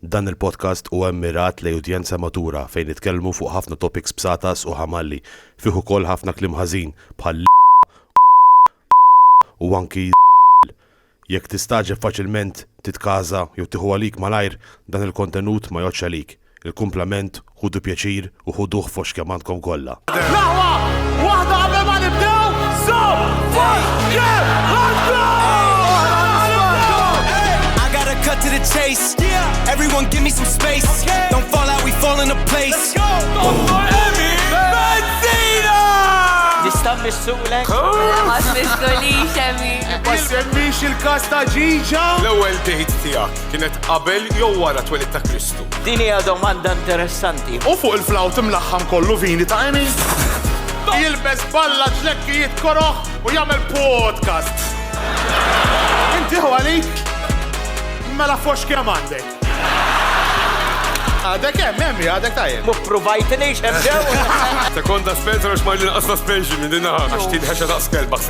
Dan il-podcast huwa mmirat lejn udjenza matura fejn nitkellmu fuq ħafna topics b'satas u ħamalli, fih ukoll ħafna kliem ħażin bħal l, u anki z, jekk tistagħġeb faċilment titkaża jew tieħu għalik malajr dan il-kontenut ma jgħoddx għalik, il-kumplament Ħudu pjaċir u ħuduh f'għoxx kemm għandkom kollha. Dahwa waħda qabel ma nibdew, żomm fost kemm Cut to the chase. Yeah. Everyone give me some space. Okay. Don't fall out, we fall into place. missulek. Għas miskolix, Emi. Ma semmix il-kas ta' ġiġa. L-ewel dejt tijak kienet qabel jew wara twelid ta' Kristu. Din hija domanda interessanti. U fuq il-flawt imlaħħam kollu vini ta' Emi? Jilbes balla ġlekki jitkoroħ u jagħmel podcast. Inti għalik? Mela fox kemm għandek. Għadek hemm, hemm, għadek tajjeb. Mu provajt li xemġew. Sekonda Spencer għax ma l-inqas ta' Spencer minn dinna. Għax tinħeċa ta' skelbak.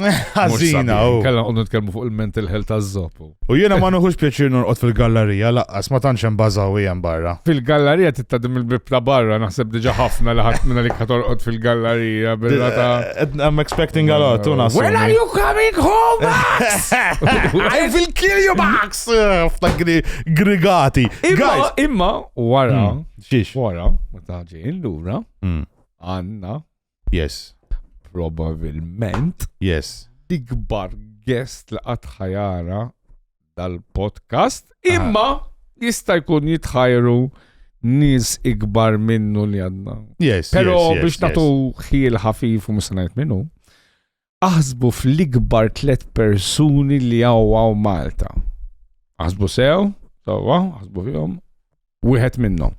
Ħażina, u. Kalla qonnu nitkellmu fuq il-mental health taż-żopp. U jiena ma nuħux pjaċir norqod fil-gallerija, laqqas ma tantx hemm bażawi hemm barra. Fil-gallerija tittadim il-bib ta' barra, naħseb diġa ħafna li ħadd minna li katorqod fil-gallerija billa ta' eh, I'm expecting a lot, u nasu. When are you coming home, Max? I will kill you, Max! F'ta' grigati. Guys! Imma, wara, hmm, xiex, wara, ma taġi, illura, hmm. għanna, Yes. Probabilment. Yes. Ikbar guest li qatt ħajara dal-podcast, imma jista' jkun jitħajru nis ikbar minnu li għadna. Yes, Pero yes, yes, biex natu yes. ħil ħafif u musanajt minnu, Aħsbu fl-ikbar tliet persuni li għaw Malta. Aħsbu sew, sewwa, aħsbu fihom, wieħed minnhom.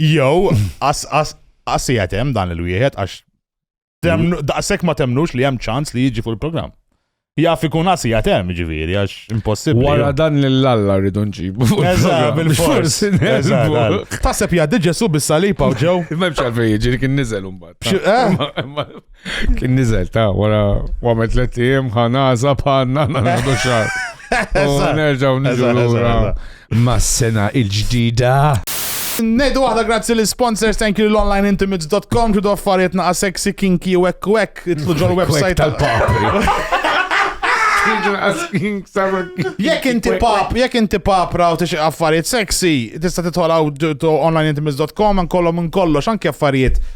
Jew, as as as hemm dan il-wieħed għax daqshekk ma temnux li hemm ċans li jiġi fuq il-programm. Jaf ikun għasi għatem ġiviri, għax impossibli. Wara dan l-alla rridu nġibu. bil-fors. Taseb jaddi ġesu bis-salipa u ġew. Memx għalfej ġiri kien nizel un-bat. Eh? Kien nizel ta' wara għamet tlet ijiem ħanaza bħanna nagħdu xar. Nerġaw niġu lura mas-sena il-ġdida. Nejdu waħda grazzi li sponsors thank you l-onlineintimates.com ġudu affarijiet naqa sexy kinky u ekk u ekk itlu ġol website tal-papri. Jekk inti pap, jekk inti pap raw tixi affarijiet sexy, tista' titħolaw onlineintimates.com għan kollom minn kollox anke affarijiet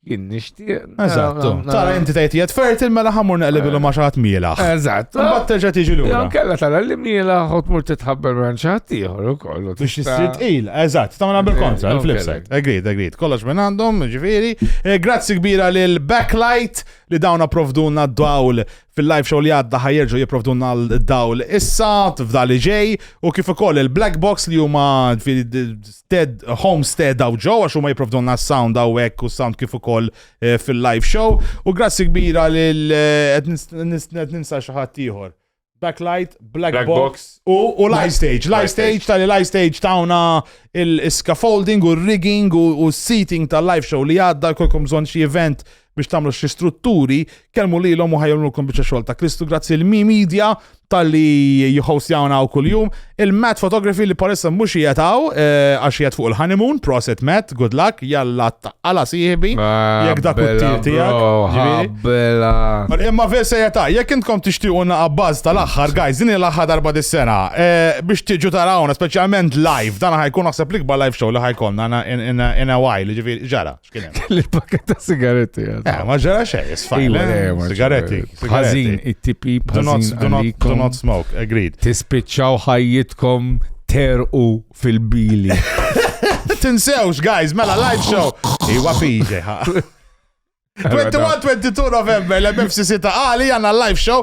Jien nixtieq. Eżatt. Tara inti tgħid jgħid fertil mela ħamur naqlibilu ma' xaħat mielaħ. Eżatt. Mbagħad terġa' tiġi lura. Jew kella tara li mielaħ u tmur titħabbar minn xaħat ieħor ukoll. Biex isir tqil, eżatt, tagħmilha bil-kontra, il-flip side. Agreed, agreed. Kollox minn għandhom, ġifieri. Eh, grazzi kbira lil Backlight li dawn approvduna d-dawl fil-live show li għadda ħajerġu jiprovdunna l-dawl issa f'da li ġej u kif ukoll il-black box li huma stead homestead daw ġew għax huma jiprovdunna s-sound hawnhekk u s-sound kif ukoll eh, fil-live show u grazzi kbira lil eh, qed ninsa xi ħadd ieħor. Backlight, Black, Black Box, Box. U, u Live Stage. Live Stage tal Live Stage tawna il-scaffolding u rigging u, u seating tal-live show li għadda kolkom bżon xie event biex tagħmlu xi strutturi, kelmu lilhom u ħajjolmulkom biċċa xogħol ta' Kristu grazzi l mi Media tal-li jħostjawna u kuljum. Il-Matt Photography li parissa mhux jgħataw eh, għax jgħat fuq il-honeymoon, proset Matt, good luck, jalla għala siħbi, ah, jek dak il-tir tijak. Imma ver se jgħata, jek intkom tixtiquna għabbaz tal-axħar, guys, din l-axħar darba dis-sena, eh, biex tiġu tarawna, specialment live, dan ħajkun naħseb l-ikbar live show li ħajkonna in a while, ġivi ġara. Kelli l-pakket ta' sigaretti. Eh, ma ġara xej, sfajn. Iva, eh, eh, sigaretti. Ħażin, it-tipi Do not smoke, agreed. Tispiċċaw ħajjitkom terqu fil-bili. Tinsewx, guys, mela live show. Iwa piġe, 21-22 November l-MFCC ta' għali għanna live show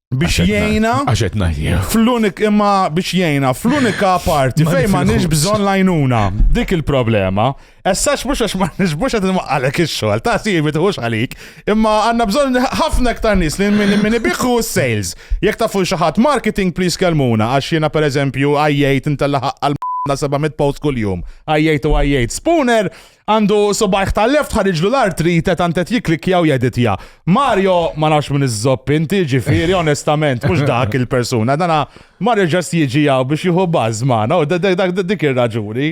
biex jgħina fl-unik imma biex jgħina fl-unika parti fejn ma nix bżon lajnuna dik il-problema essax mux għax ma nix mux għad għalek il-xol ta' si jibit hux għalik imma għanna bżon ħafna ktar nis li minni biħu sales jek ta' fuq xaħat marketing please kelmuna għax jena per eżempju għajjajt intella ħaqqal na 700 post kull-jum. Għajjajt u għajjajt. Spooner, Għandu subajh tal-left ħariġlu l-artrite tant qed jikklikkja u jeditja. Mario, ma nafx min iżżopp inti, ġifieri onestament mhux dak il-persuna. Dana Mario ġast jiġi hawn biex jieħu baż magħna u d- d- dak- dik ir-raġuni.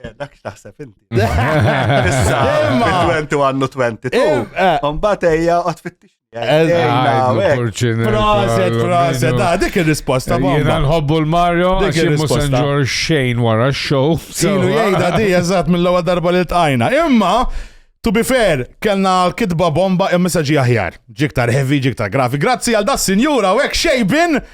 Eh, Dak x'taħseb inti. Issa, Imma- 20 għandu 22. Eh, eh. Mbagħad ejja qod fittix. Proset, proset, da, dik il-risposta bomba. Jena nħobbu l-Mario, dik il-risposta. Ġor xejn wara x-show. Silu jgħida di, eżat, mill-lawa darba li tqajna. Imma, To be fair, kellna kitba bomba imma saġi aħjar. Ġiktar heavy, ġiktar grafi. Grazzi għal da sinjura u hekk xejbin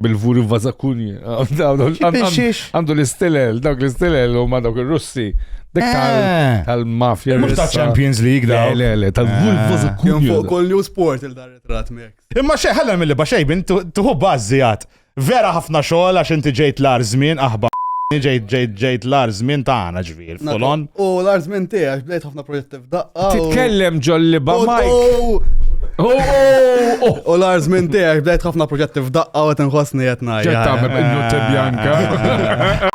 bil-vuri vazakunji. Għandu l-istilel, dawk l-istilel u ma dawk il-russi. Dik eh. tal-mafja. Mux ta' Champions League da. Le, le, tal-vuri eh. vazakunji. Fuq kol new sport il-dar ritrat mek. Imma xej, ħalla mill-li baxej, bin tuħu bazzi għat. Vera ħafna xogħol għax inti ġejt l-ar żmien aħba ġejt ġejt ġejt l-ar żmien tagħna ġvir, folon. U l-ar żmien tiegħek bdejt ħafna proġetti F'daqqa. u- Titkellem ġol-liba U- Mike. u- Oh, oh, oh. U l-arż minn tiegħek bdejt ħafna proġetti f'daqqa u qed inħossni qed ngħid. Ġed tagħmel bil-nutte bjanka.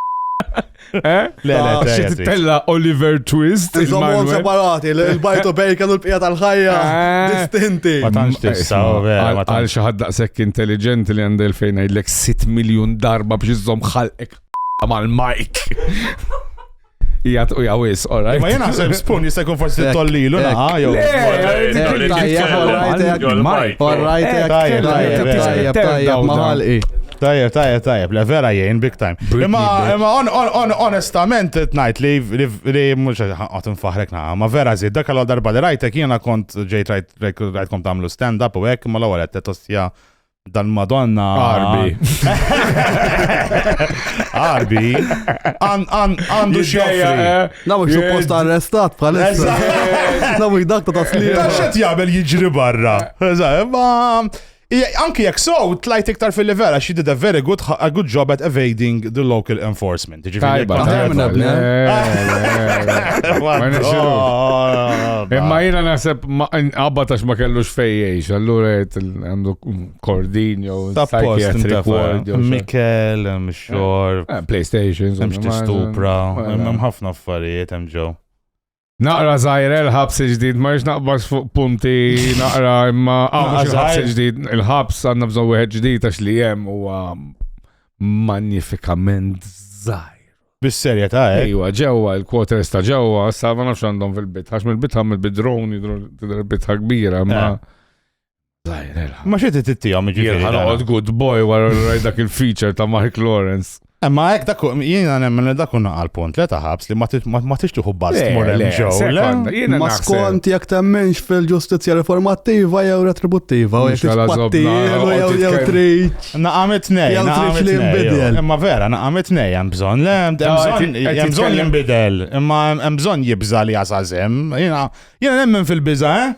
Eh? Le, le, Ta' Xi tajjeb, titella Oliver Twist. Iżommhom il-Manuel. separati, l- il-bajt u bacon u l-bqija tal-ħajja Ah. distinti. Ma tantx tista' u vera, ma Għal tantx. xi ħadd daqshekk intelligenti li għandha fejn ngħidlek 6 miljun darba biex iżomm ħalqek mal-Mike. Ija tquja wis, all right. Ma jena naħseb spun jista' jkun forsi tollilu naħa jew. Tajjeb, tajjeb, tajjeb, le vera jgħin big time. Imma imma onestament tnajt li li mhux qed nfaħrek naħa, ma vera żid dak għal darba li rajtek jiena kont ġejt rajtkom tagħmlu stand up u hekk ma l-ewwel qed tostja dal-Madonna. Arbi. Arbi. Għandu xejja. Eh. Naw xie post arrestat bħalissa. Naw dak ta' taslim. Ta' xet jgħabel jiġri barra. Anki jek so, tlajt iktar fil-level, għax she did a very good, a good job at evading the local enforcement. Tajba, tajba. Imma jina nasib għabba tax ma kellux fejjiex, allura għandu kordin jow psychiatric ward. Mikel, mxor. Eh, eh, PlayStation. Mxti stupra. Hemm ħafna affarijiet hemm ġew. Naqra zaħir il-ħabs il-ġdid, ma rix naqbax fuq punti naqra imma għamux il-ħabs il-ġdid, il-ħabs għanna bżon wieħed ġdid għax li jem u magnifikament zaħir. Bis-serja ta' eh? Ejwa, ġewwa, il-quarters ta' ġewwa, sa' ma nafx għandhom fil-bit, għax mill-bit għam il-bidroni, il-bit kbira, ma' eh. Ma xie tittijom ġifiri. Jena għod good boy wara rajt dak il-feature ta' Mark Lawrence. Emma għek dak, jena nemmen li dak unna għal-punt li taħabs li ma tix tuħu bast morem ġew. Ma skont jek temmenx fil-ġustizja reformattiva jew retributtiva. Jew jew triċ. Naqamet nej. Jew triċ li jimbidel. Emma vera, naqamet nej, jem bżon. Jem bżon jimbidel. Emma jem bżon jibza li għazazem. Jena nemmen fil-biza, eh?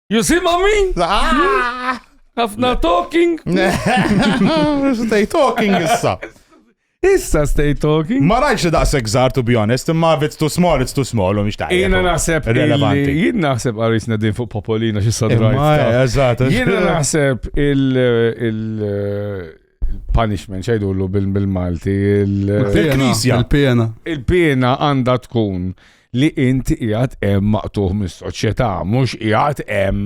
You see ma min? Ah! Ħafna talking. Stay talking issa. Issa stay talking. Ma rajx li daqseg zar, to be honest, imma if it's too small, it's too small, u miex ta' Jena naħseb relevanti. illi- Jien naħseb għarisna din fuq Popolina xi Imma, sadrajt. eżatt. Jena naħseb il- il- punishment xajdullu bil-Malti. Il-pena. Il-pena. Il-pena għanda tkun li inti jgħat em maqtuħ mis soċjetà mux jgħat em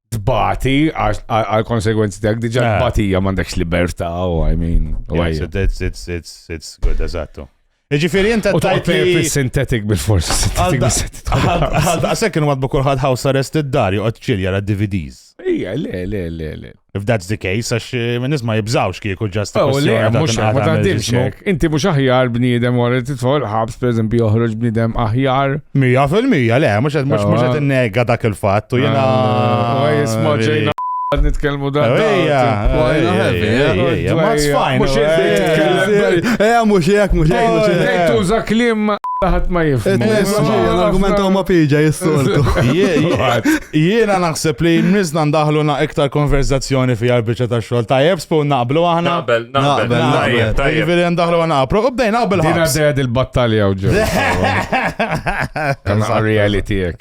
tbati għal konsegwenzi tiegħek diġà tbatija m'għandekx libertà u I mean. It's it's it's it's good eżattu. Ġifiri, inta tajt li. Sintetik bil-fors, sintetik bil-sintetik. Għasek kienu madbu kullħad house arrest id-dar, joqgħod ċil jara DVDs. Ija, le, le, le, le. If that's the case, għax eh, minn nisma jibżawx kieku ġast. Oh, le, mux ma taħdimx. Inti mux aħjar bniedem għor titfall ħabs, per eżempju, joħroġ bniedem aħjar. Mija fil-mija, le, mux għed mux għed nega dak il-fat, u jena. Ah, Għad nitkelmu da. Ejja, ejja, ma tfajn. Mux ejja, mux jek, mux jek, mux jek. Ejja, tuża klim ħat ma jifmu. L-argumentaw ma piġa jissoltu. Jiena naħseb li mnizna ndaħlu na iktar konverzazzjoni fi għarbiċa ta' xol. Ta' jebspu naqblu għahna. Naqbel, naqbel, naqbel. Ta' jibili ndaħlu għana għapru. Ubdej naqbel għahna. Dina d-ded il-battalja uġu. Kan għarri għalli tijek.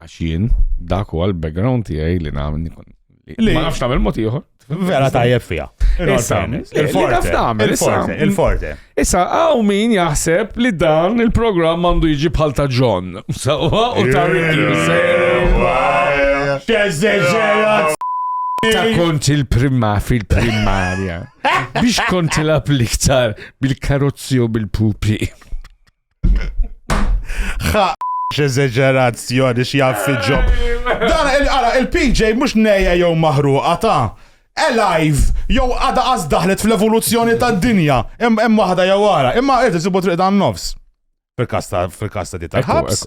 Għax jien, dak huwa l-background tiegħi li nagħmel li ma nafx tagħmel mod ieħor. Vera tajjeb fiha. Il-forte. Il-forte. Issa għaw min jaħseb li dan il-programm għandu jiġi bħal ta' John. Sawa u ta' Ta' kont il-prima fil-primarja. Biex kont il-appliktar bil-karozzi u bil-pupi. Ħa x'eżeġerazzjoni x'jaf ġob. Dan il-qara il-PJ mhux nejja jew maħruqa ta' alive jew għada qas daħlet fl-evoluzzjoni tad-dinja. Hemm waħda jew wara, imma qed isibu triq dan nofs. Fil-kasta fil-kasta di tal-ħabs.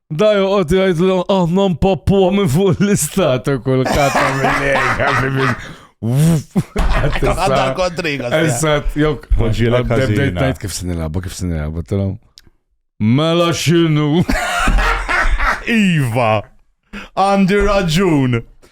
Da joqgħod jgħidlhom aħna mpappu minn fuq l-istat u kull kata mill-lejn. Għadda kontriga. Eżatt, jok. Poġġiela kazina. Kif sinilabba, kif sinilabba, tal-om. Mela xinu. Iva, għandi raġun.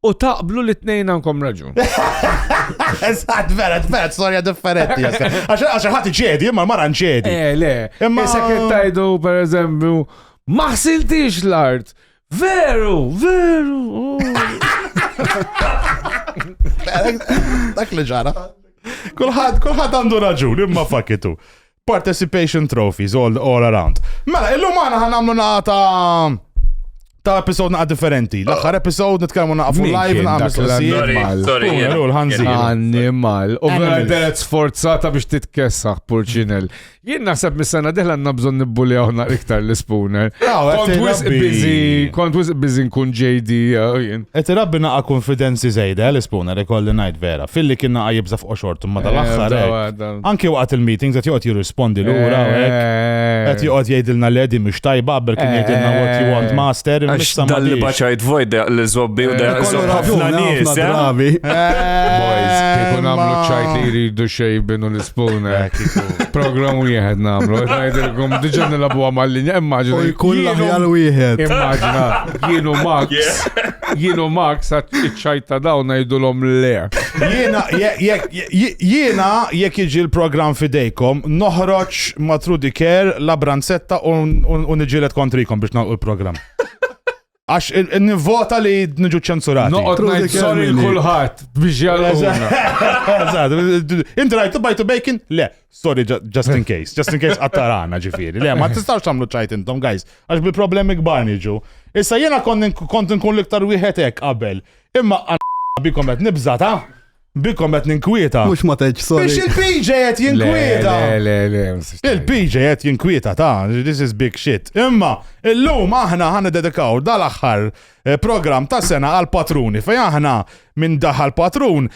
U taqblu li t-nejn għankom raġun. Eżat, vera, vera, storja differenti. Għax ħati ġedi, imma mara ġedi. Eh, le. Imma se kien tajdu, per eżempju, maħsiltix l-art. Veru, veru. Oh. Dak li ġara. Kulħad, kulħad għandu raġun, imma fakitu. Participation trophies all, all around. Mela, illum għana ħan għamlu naqa ta' ta' episod naqa differenti. L-axħar episod nitkellmu naqa fuq live naqa mistoqsijiet. Sorry, l-ħanzi. Animal. U vera sforzata biex titkessaħ purċinel. Jien naħseb mis-sena diħla għanna bżon nibbuli għawna iktar l-spooner. Ah, kont wis bizi, kont wis bizi nkun JD. Et uh, rabbi naqa konfidenzi zejda eh, l-spooner, ikolli najt vera. Filli kien naqa jibza fuq xortum ma tal-axħar. Eh, eh. Anki waqt il-meetings qed joqgħod jirrispondi lura u hekk. Qed joqgħod jgħidilna li qegħdin mhux tajba qabel kien jgħidilna what you want master. Għax imissa ma dal-li tix. baċajt vojt da li zobbi u da Kollu zobbi ħafna raġuni, ħafna nies. eh? drabi. Boys, kieku namlu Imma- ċajt li jridu xejbinu l-ispun. Program wieħed namlu. Għajdilkom, diġa nilabu għamallinja, U immaġina. jkun jienu- l-aħjar wieħed. Immaġina, jienu Max, jienu Max, iċċajta dawn najdulom le. Jiena, jekk, jekk, Jiena jekk jiġi l-programm fidejkom, noħroġ ma' Trudy Care la branzetta u niġilet kontrikom biex nagħlqu l-programm. Għax nivvota li nġu ċensurati. Noqgħod ngħid sorry kulħadd biex jgħalquna. Inti rajtu bajtu bacon? Le, sorry just in case, just in case qattarana ġifieri. Le, ma tistgħux tagħmlu ċajt intom guys, għax bi problemi kbar niġu. Issa jiena kont nkun l-iktar wieħed hekk qabel. Imma bikom qed nibża ta' Bikom qed ninkwieta. Mhux ma tgħidx sorry. Biex il-PJ qed jinkwieta. Il-PJ qed jinkwieta ta' this is big shit. Imma illum aħna ħana dedikaw dal-aħħar eh, program ta' sena għal patruni fej aħna minn daħal patrun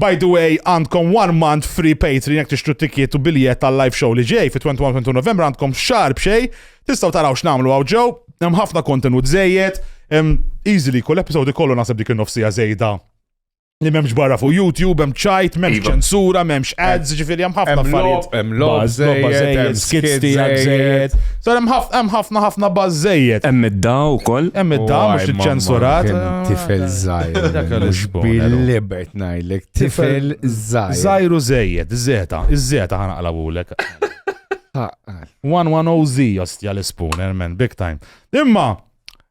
By the way, għandkom one month free Patreon jek tixtru tikiet u biljet tal-live show li ġej fi 21-22 Novembru għandkom xar bxej, tistaw taraw x'namlu għaw ġew, hemm ħafna kontenut żejjed, easily kull episodi kollu nasib dik in-nofsija żejda Li memx barra fuq YouTube, hemm ċajt, memx Iva. ċensura, memx ads, ġifiri hemm ħafna affarijiet. Hemm logħob żejjed, skits tiegħek żejjed. Sar hemm ħafna ħafna baż żejjed. Hemm id-da wkoll. Hemm id-da mhux iċċensurat. Tifel żgħir. Mhux bil-libert ngħidlek. Tifel żgħir. Żgħiru żejjed, iż-żeta, iż-żeta ħanaqlabulek. 110Z jostja l-ispun, man, big time. Imma,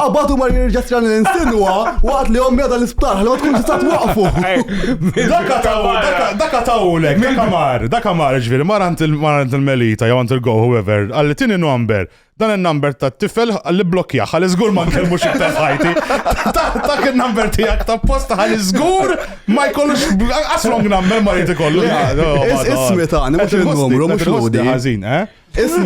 Qabad u mar jirġa tran l-insinwa waqt li ommi għadha l-isptar, ħalli ma tkun tista' twaqfu. Daka taw, daka tawlek, daka mar, daka mar, ġviri, mar għand il-melita, jew għand il-go, whoever, għalli tini number, dan il-number ta' tifel għalli blokja, għalli zgur ma nkellmu xiktar ħajti. Dak il-number tijak ta' posta għalli zgur ma jkollux, as long number ma jtikollu. Ismi ta' għani, mux il-numru, mux l-għodi. Għazin, eh? Ismu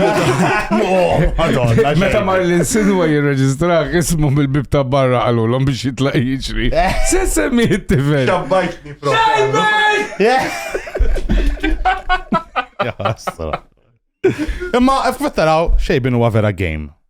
Meta mar l-insinwa jirreġistrak ismu mill-bib ta' barra għalulhom biex jitlaq jiġri. Eh. Se semmi it-tifel. Xabbajtni Imma f'kwittaraw xejbin huwa vera game.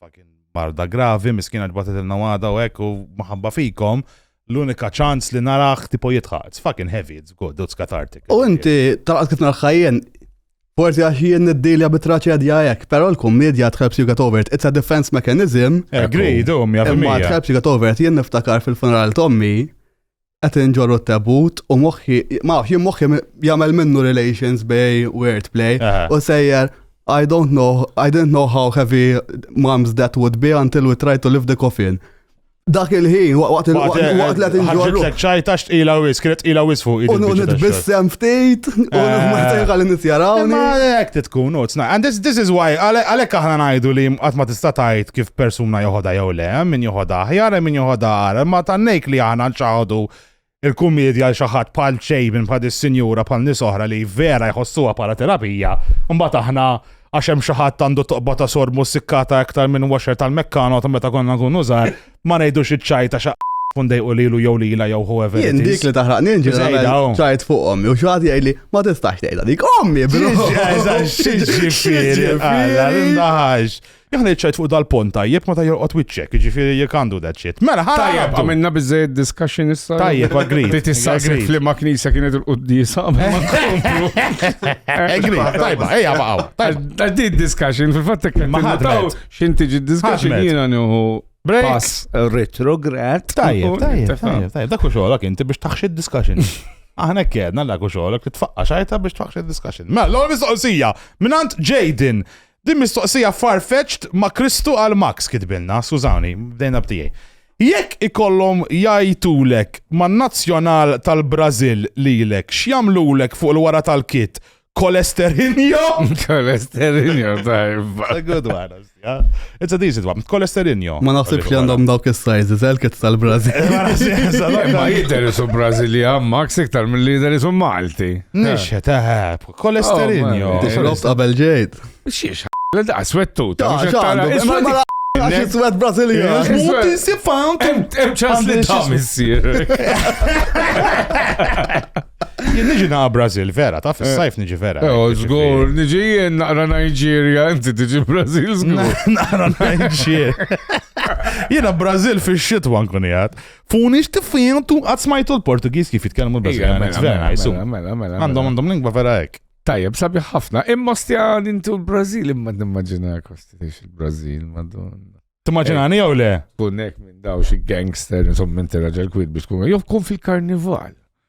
fucking marda gravi, miskina ġbatet il-nawada u hekk u maħabba fikom, l-unika ċans li narax tipo jitħaq. It's fucking heavy, it's good, it's cathartic. U inti, tal-qas kif narħajjen, forsi għax jien niddilja bit-traċedja hekk, però l-kummedja tħelps you get over it. It's a defense mechanism. Agree, dum, jafimija. Imma tħelps you get over it, jien niftakar fil-funeral tommi, qed inġorru t-tebut u moħħi, ma nafx, jien moħħi jagħmel minnu relations bej word play u sejjer I don't know, I didn't know how heavy mom's that would be until we tried to lift the coffin. Dak il-ħin, waqt il-waqt li tinġorru. Ħagġitlek ċajta xtqila wis, kienet ila wis fuq. U nitbissem ftit, u nħmajtajn għal nitjaraw. Ma għalek titkun, and this is why, għalek aħna najdu li għat ma tista tajt kif persuna joħoda jew Hemm min joħodha aħjar, hemm min joħodha agħar, imma tannejk li aħna nċaħħdu l-kummiedja għal xi ħadd bħal Chabin, bħal dis-sinjura, bħal nies oħra li vera jħossuha bħala terapija, imbagħad aħna għax hemm xi ħadd għandu toqba ta' sormu ssikkata iktar minn washer tal-Meccano ta' meta konna nkunu żgħar, ma ngħidux iċ-ċajta xa kun dejqu lilu jew lila jew whoever. Jien dik li taħraqni ġejda ċajt fuqhom u xi ħadd jgħidli ma tistax tgħidha dik ommi bro. Xi ġifieri, għalla, Jekk ngħid fuq dal-pont tajjeb meta jorqod wiċċek, jiġifieri jekk għandu that shit. Mela ħa. Tajjeb, għamilna biżejjed discussion issa. Tajjeb, agree. Ti tistaqsi li ma knisja kienet il-quddisa. Agree, tajba, ejja baqgħu. Tajba. Di discussion fil-fatt kien ma ħadtaw x'in tiġi discussion jiena nieħu pass retrograd. Tajjeb, tajjeb, tajjeb. Dak u xogħolok inti biex taħxi discussion. Aħna kjedna l-għaku xogħolok li tfaqqa xajta biex tfaqqa discussion. Mela, l-għol mistoqsija, minant Jaden, Din mistoqsija far-fetched ma Kristu qal Max kitbilna, skużawni, bdejna b'tiegħi. Jekk ikollhom jgħajtulek man-nazzjonal tal-Brażil lilek x'jagħmlulek fuq il-wara tal-kit, Kolesterinjo? Kolesterinjo, tajb. A good one. It's a decent one. Kolesterinjo. Ma naħsibx li għandhom dawk is-sizes, elket tal-Brażil. Ma jidher isu Brażilja, Max iktar mill-lider isu Malti. Nixħet, eħe, Kolesterinjo. Tixrob qabel ġejt. Xiex, la da, swettu. Ta' xaħdu. Isma ma Għax swet Brasilja. Muti si found. Em ċans li ta' missir. Jien niġi na' Brasil vera, ta' fis-sajf niġi vera. Ew, oh, zgur, niġi jien naqra Nigeria, inti tiġi Brasil zgur. Naqra Nigeria. Jiena Brasil fix-xitwa nkun jgħad. Funi xtifijantu għad smajtu l-Portugis kif jitkellmu l-Brażiljan. Mela, mela, mela, mela, mela. Għandhom għandhom lingwa vera hekk. Tajjeb, sabi ħafna. Imma stja dintu l-Brażil, imma nimmaġina kosti il-Brażil, madonna. Timmaġinani jew le? Kunek minn daw xi gangster, insomma, inti raġel kwid biex tkun. Jew kun fil-karnival.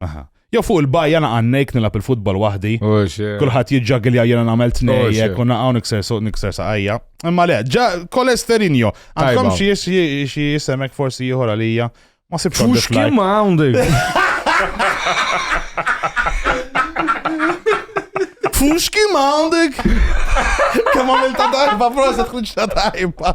Aha. Jew fuq il-bajja naqa' nejk nilab il-futbol waħdi. Kulħadd jiġġagilja jiena nagħmel tnejjek u naqgħu nikser suq nikser saqajja. Imma le, ġa kolesterinjo. Għandkom xi jisemek forsi ieħor għalija. Ma sibx. Fux kemm għandek. Fux kemm għandek. Kemm għamilta tajba, proset ħriġ ta' tajba.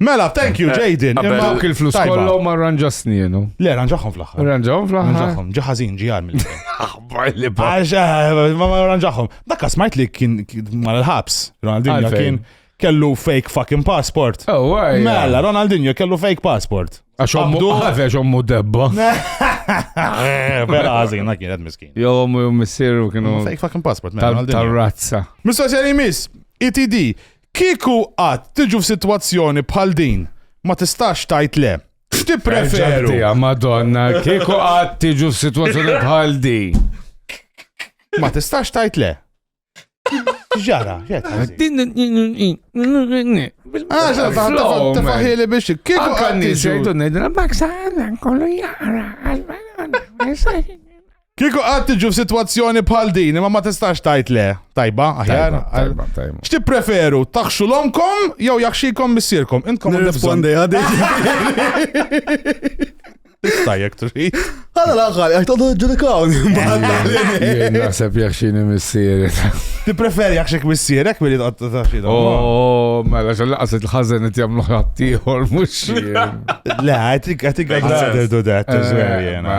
Mela, thank you, eh, Jaden. Imma dawk il-flus kollu ma ranġasni jenu. Le, ranġaħom fl-axħar. Ranġaħom fl-axħar. Ranġaħom, ġaħazin ġiħar mill Aħbar li ba. Eh, ma ranġaħom. Dakka smajt li kien mal ħabs Ronaldinho kien kellu fake fucking passport. Oh, why? Mela, Ronaldinho kellu fake passport. Għax ommu għafex ommu debba. Eh, vera għazin, għak jienet miskin. Jo, ommu missiru kienu. Fake fucking passport, mela. Tal-razza. Mistoqsija li mis, ETD, Kieku qatt tiġu f'sitwazzjoni bħal din, ma tistax tgħid le. X'tippreferu? Ġabdija, Madonna, kieku qatt tiġu f'sitwazzjoni bħal din. Ma tistax tgħid le. Ġara, ġet. Tafaħili biex kieku Anka qatt n-nies tiġu. jgħidu ngħidilha b'hekk saħna kollu jara. Kieku qatt tiġu f'sitwazzjoni bħal din, imma ma tistax tajt le. Tajba, aħjar. Tajba, tajba. X'ti preferu, taħxu l-omkom jew jaħxikom missierkom? Intkom nirrispondi għadi. Tista' jek trid. Għala l-aħħar, jek todu ġudikawni. Naħseb jaħxini missieri. Ti preferi jaħxik missierek billi taqta taħxina. Oh, mela xallaqas il-ħazen it jamlu ħattijħor, mux. Le, I think I'd rather do that as well, jena.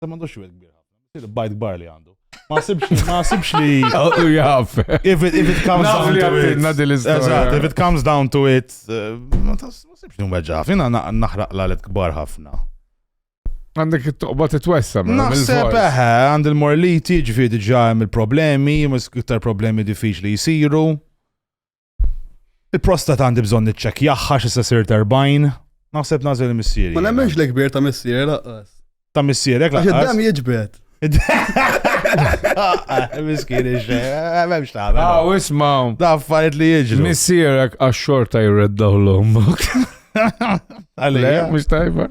Ta' mandu xwil kbir ħafna. Bajt kbar li għandu. Ma sibx li, ma sibx li. U jaf. If it, if it comes down to it. Eżat, if it comes down to it. Eh, ma sibx li mweġa. Fina naħraq la let kbar ħafna. Għandek it-toqba t-twessa. Mela, Naħseb eħe, eh, għand il-morliti ġifiri ġajem il-problemi, mis-ktar problemi diffiċli jisiru. Il-prostata għandi bżonn niċċekkjaħħa xi se sirt 40. Naħseb nażel missieri. Ma nemmenx li kbir ta' missieri laqqas. Ta' missierek laqqas. Għax id-dam jiġbed. Miskin iġġe, memx ta' għamil. Għaw, ismaw. Da' affarijiet li jiġru. Missierek għax xorta jirreddaw l-ommok. Għalija, mux tajba.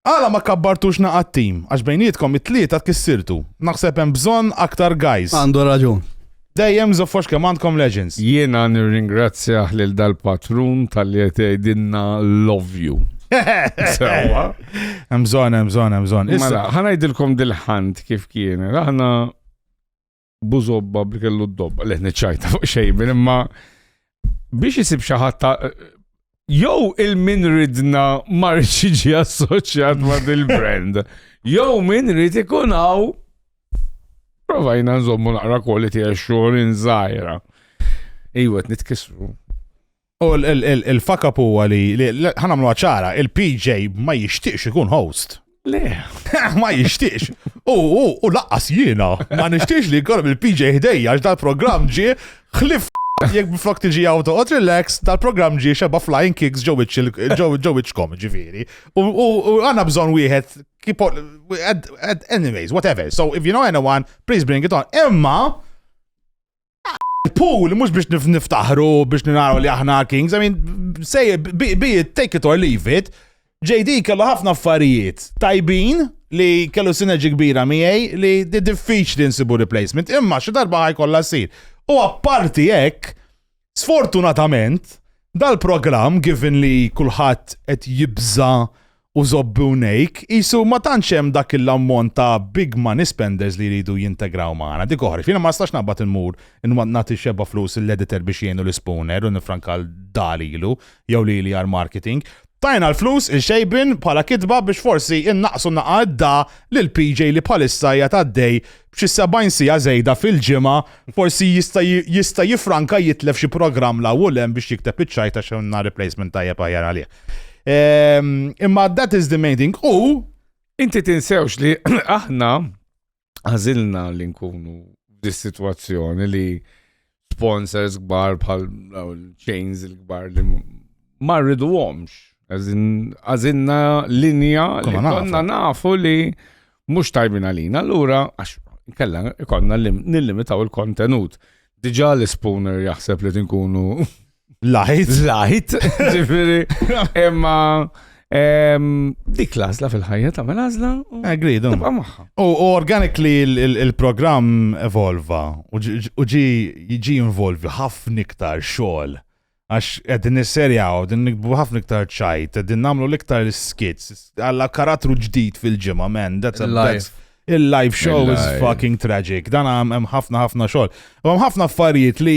Għala ma kabbartux naqat team għax bejnietkom it-tlieta tkissirtu. Naħseb hemm bżonn aktar guys. Għandu raġun. Dejjem żoffox kemm għandkom legends. Jiena nirringrazzjah lil dal-patrun talli qed jgħidilna love you. Sewwa. Hemm bżonn, hemm bżonn, hemm bżonn. Mela, ħa ngħidilkom dil-ħant kif kienet. Aħna bużobba bi kellu d-dobba, li niċċajta fuq xejn, imma biex jisib xaħat ta' jew il-min ridna marriċ iġi assoċjat ma' dil-brand, jew min rid ikun hawn provajna nżommu naqra kwalitija xogħol inżajra. Iwa, nitkisru. U l-fakab huwa li ħanamlu ċara, il-PJ ma jixtieqx ikun host. Le, ma jixtieqx. U laqqas jiena, ma nixtieqx li jkollhom il-PJ ħdejja għax dal-programm ġie ħlif jek biflok tiġi għaw toqgħod relax, dal-programm ġie xeba flying kicks ġew iċkom ġifieri. U għandna bżonn wieħed keep on, anyways, whatever. So if you know anyone, please bring it on. Imma, Il-pool mhux biex niftaħru biex naraw li aħna kings, I mean, say, be it, take it or leave it. JD kellu ħafna affarijiet tajbin li kellu sinerġi kbira miegħi li diffiċli nsibu replacement, imma xi darba ħajkollha ssir. U apparti hekk, sfortunatament, dal-programm given li kulħadd qed jibża' u żobbi u nejk, qisu ma tantx hemm dak il-ammont ta' big money spenders li jridu jintegraw magħna, dik oħra. Jiena ma nistax naqbad immur nagħti xebgħa flus lill-editor biex jgħinu l-Spooner u nifranka l dar lilu jew lili għall-marketing. Tajna l-flus il xejbin bħala kitba biex forsi innaqqsu naqa' d-da lil PJ li bħalissa qiegħed għaddej b'xi 70 siegħa żejda fil-ġimgħa, forsi jista' jista' jiffranka jitlef xi programm 'l hawn u 'l hemm biex jikteb iċ-ċajt għax għandna replacement tajjeb aħjar għalih. Ehm, imma that is the main thing. U Inti tinsewx li aħna għażilna li nkunu f'dis-sitwazzjoni li sponsors kbar bħal chains il-kbar li ma rridu għomx. Għazinna linja li konna nafu li mux tajbin għalina. Allura, għax kella konna nillimitaw il-kontenut. Diġa l-spooner jaħseb li tinkunu Lajt. Lajt, ġifiri. Imma dik lazla fil-ħajja ta' mela lazla. Agri, eh, dum. U organically il-program evolva u ġi ġi involvi ħafna iktar xogħol. Għax għedin nisserjaw, għedin nikbu ħafna iktar ċajt, għedin namlu l-iktar skits, għalla karattru ġdid fil-ġimma, man, that's a life. Il-live show is fucking tragic. Dan għam ħafna ħafna xogħol. Għam ħafna affarijiet li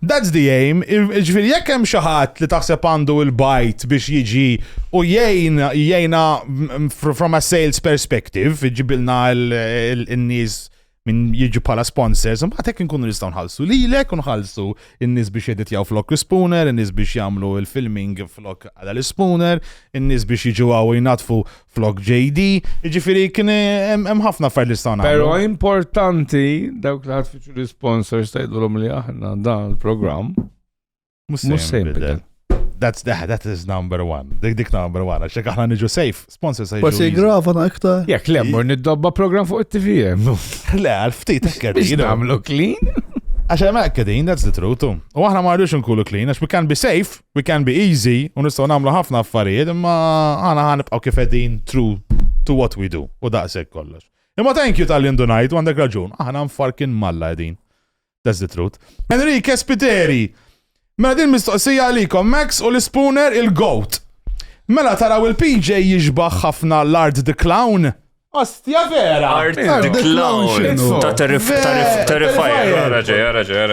That's the aim, jiġifieri jekk hemm xi ħadd li taħseb għandu l-bajt biex jiġi u jgħin jgħinha from a sales perspective, iġibilna n-nies minn jiġu bħala sponsors, mbagħad hekk inkunu nistgħu nħallsu lilek u nħallsu n-nies biex jeditjaw flok l-spooner, in-nies biex jagħmlu l-filming flok għal l-spooner, in-nies biex jiġu għaw jnatfu flok JD, ġifiri kien hemm ħafna affarijiet li stana. Però importanti dawk li ħadd fiċu l-sponsors tgħidulhom li aħna dan il-programm mhux se jinbidel. That's the, that is number one. Dik dik number one. Għaxek aħna niġu safe. Sponsor safe. Bas jigrafa na iktar. Jek le, mor niddobba program fuq it-TVM. Le, għal-ftit ekkert. Biex namlu clean. Għaxek ma ekkadin, that's the truth. U aħna ma rridux nkulu clean, għax we can be safe. We can be easy, u nistgħu nagħmlu ħafna affarijiet, imma għana ħanibqgħu kif qegħdin true to what we do, u daqshekk kollox. Imma thank you tal-li ndunajt, u għandek raġun, aħna nfarkin malla qegħdin. That's the truth. Enrique Spiteri, Mela din mistoqsija għalikom Max u l-Spooner il-Goat. Mela taraw il-PJ jiġbaħ ħafna l-Art the Clown Ostja vera! Art decline ta' terrifajr.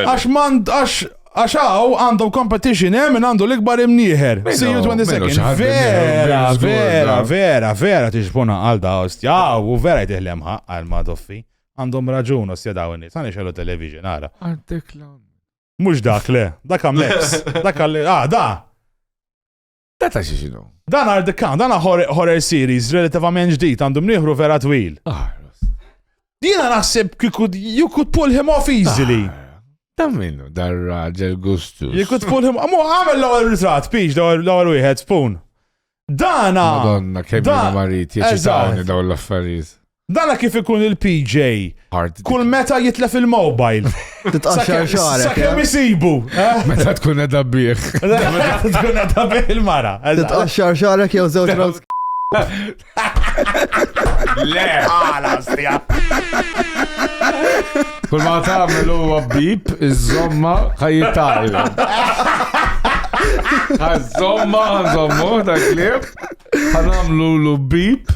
Għax mand, għax għax għaw għandu competition hemm eh, minn għandu l-ikbar imnieħer. See you 20 seconds. Vera, vera, vera, vera tiġbuna għal da ostja. U vera jtiħlem ħaq għal madoffi. Għandhom raġun ostja daw n-nis. Għani xellu television, għara. Art decline. Mux dak le, dak għam leps. Dak għalli, ah, da! Data xi xinu? Dan għar dikkan, dan horror series relativament ġdid għandhom nieħru vera twil. Ah, Jiena naħseb you could pull him off easily. Ah. Dan minnu, dar raġel gustus. You could pull him, mu għamil l-ewwel ritrat, piġ l-ewwel wieħed spoon. Dana. Madonna, kemm mariti, eċitawni daw l-affarijiet. Dana kif ikun il-PJ? Kull meta jitlef il-mobile. Titqaxxar xagħrek. Sakemm eh? isibu. Eh? Meta tkun edha bih. Meta tkun edha bih il-mara. Titqaxxar xagħrek jew żewġ rows. Le, għala stija. Kull ma tagħmel huwa bib, iż-żomma ħajjital. Għaż-żomma, għaż-żomma, dak li. Għanamlu l-bib.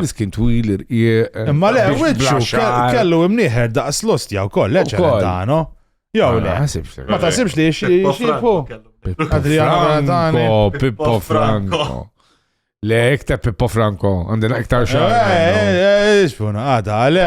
Miskin twil irqieq. Eh, Imma le, wiċċu kellu imnieħer daqs lost jaw koll, leċa dano. Jaw le. Ma tasibx li xieħu. Franco, Pippo Franco. Le, iktar Pippo Franco, għandina iktar xar. Eh, eh, xfuna, għada, għale.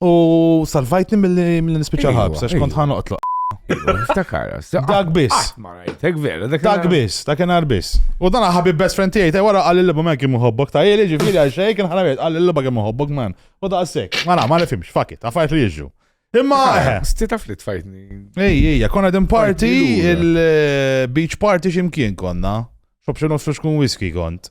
U salvajtni mill-li nispiċa Iva, ħabs, għax kont iva. ħan oqtlu. Ftakara, Dak biss. Dak vera, dak Dak biss, dak kienar biss. U dan ħabib best friend tiegħi ta' wara qal il-liba man kemm uħobbok ta' jeli ġifieri għal xejn kien ħana qal il-liba kemm uħobbok man. U da' sek, ma na, ma nifhimx, fuck it, affarijiet li jiġu. Imma eħe. Sti taf li tfajtni. Ej, ej, konna din party, Party lura. il-beach party ximkien konna. Xob xinu xkun whisky kont.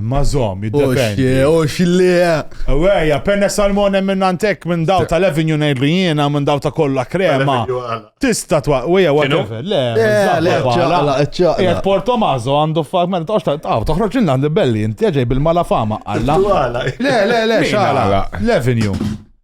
Imma zom, jiddependi. Oxi, li. Eweja, penne salmone minn antek minn daw tal-Avenue ngħidlu jiena minn daw ta' kollha krema. Tista' twa, weja whatever. Le, le, ċaqla, ċaqla. Jek Porto Mazo għandu fak meta toqgħodx ta' taw, toħroġ inna għandi belli, inti ġej bil-mala fama, alla. Le, le, le, xala. L-Avenue.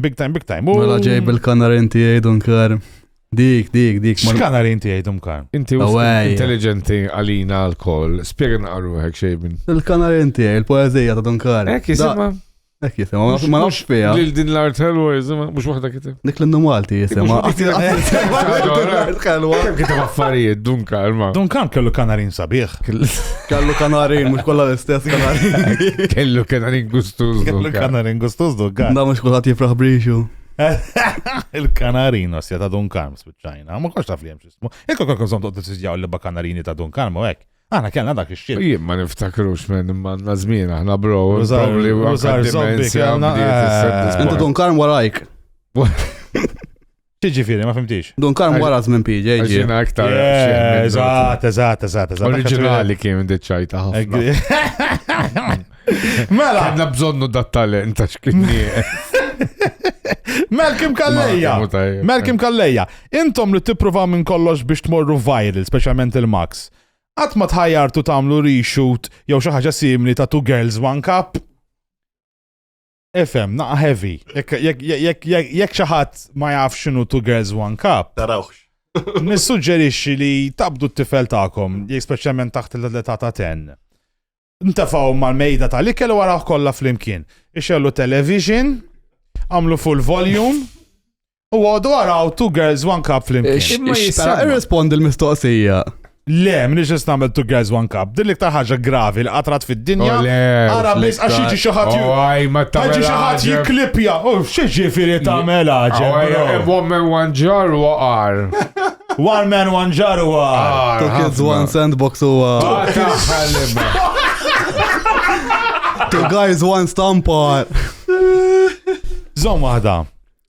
Big time, big time. Mela ġej bil-kanarin tiegħi Dunkar. Dik, dik, dik. X'kanarin tiegħi Dunkar? Inti intelligenti għalina l-koll. Spjega naqru hekk xejn. Il-kanarin tiegħi, il-poeżija ta' Dunkar. Hekk jisimha. Hekk jisimha, ma nafx fiha. Lil din l-art ħelwa jisimha, mhux waħda kiteb. Dik l-innu Malti jisimha. Kiteb affarijiet Dunkar ma. Dunkar kellu kanarin Sabiħ. Kellu kanarin, mux kolla l-istess kanarin. Kellu kanarin gustuz. Kellu kanarin gustuz dukka. Da mux kolla tifraħ briċu. Il-kanarin osja ta' Don Karm spiċċajna. Ma kolla taf li jemx ismu. Ekko kol konsom toqt t-sizjaw li ba kanarini ta' Don Karm u ek. Għana kellna dak ix-xil. Jien ma niftakrux minn manna żmien aħna bro. Użar li użar zombi kellna. Intu Don Karm warajk. Ġiġifieri, ma fimtix. Dun karm wara żmien PJ. Ġina aktar. Eżatt, eżatt, eżatt. Oriġinali kien deċajta ħafna. Mela. Għadna bżonnu dat talent ta' xkinni. Malkim Kalleja. Malkim Kalleja. Intom li tippruvaw minn kollox biex tmorru viral, speċjalment il-Max. Qatt ma tħajjartu tagħmlu reshoot jew xi ħaġa simili ta' Two Girls One Cup. Ifem, naqa heavy. Jekk xi ħadd ma jaf x'inhu Two Girls One Cup. Tarawx. Nissuġġerixxi li tabdu t-tifel tagħkom, speċjalment taħt l-età ta' ten. Ntafaw mal-mejda tal-ikel u waraħ kollha flimkien. Ixellu television, għamlu full volume, U għodu għaraw two girls one cup flimkien. Imma jistara irrispondi l-mistoqsija. Le, minix nistamel two girls one cup. Din l-iktar ħaġa gravi li qatrat fid-dinja. Ara biss għax jiġi xi ħadd ju- Għaj, ma ta' Għagġi xaħat jiklipja, u xieġifiri ta' mela ġemma. Woman one jar u għar. One man, one jar u għar. Two kids, one sandbox u uh, two guys, one stampa. Zom waħda,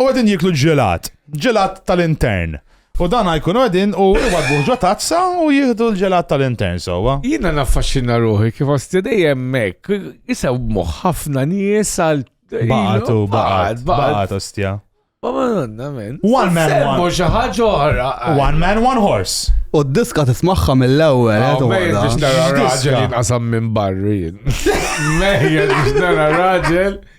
U għedin jiklu ġelat, ġelat tal-intern. U dan għajkun għedin u għadbu ġo tazza u jihdu l-ġelat tal-intern sowa. Jina naffaxxina ruħi kif għasti dejjem mek, jisaw moħ ħafna nies għal. Baqatu, baqat, baqat, ostja. One man, one. ħaġa oħra. One man, one horse. U d-diska tismaħħa mill-ewwel. Eh, Mejja biex nara raġel jinqasam minn barri. Mejja biex nara raġel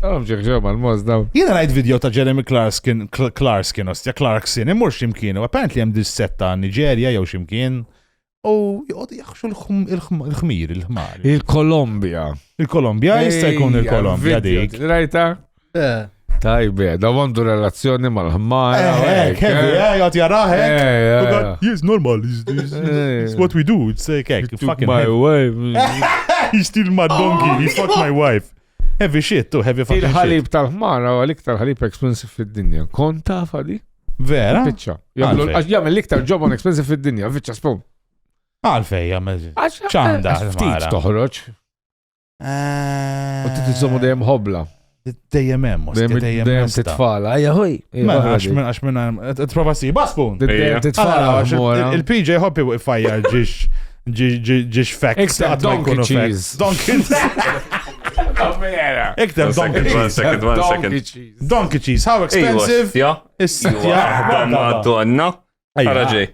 Obġek ġobba l-moż daw. Jiena rajt video ta' Jeremy Clarkskin, Clarkskin, ostja Clarksin, imur ximkien, u apparent li hemm dissetta Niġerja jew ximkien, u jgħod jaħxu l-ħmir, il-ħmar. Il-Kolombja. Il-Kolombja, jista' jkun il-Kolombja dik. Rajta? Eh. Tajbe, da għandu relazzjoni mal-ħmar. Eh, eh, kemmi, eh, jgħat jaraħ, eh. Yes, normal, it's what we do, it's like, fucking my wife. He's still my donkey, he fucked my wife. Heavy shit, tu heavy fucking shit. Il-ħalib tal-ħmar huwa l-iktar ħalib expensive fid-dinja. Kont taf għadi? Vera? Fiċċa. Għax jagħmel l-iktar ġob on expensive fid-dinja, fiċċa spum. Għalfej jagħmel. Ċanda. Ftit toħroġ. Eh, u titiżomu dejjem ħobla. Dejjem hemm, dejjem titfala. Ejja ħoj. Mela, għax minn għax minn prova si, baspun. Dejjem titfala. Il-PJ hoppi u fajjar ġiex ġiġ facts. Iktar donkey cheese. Donkey Iktar donkey cheese. Second one, second. Donkey cheese, how expensive? Ja, ja, għanna għanna. Għaraġi.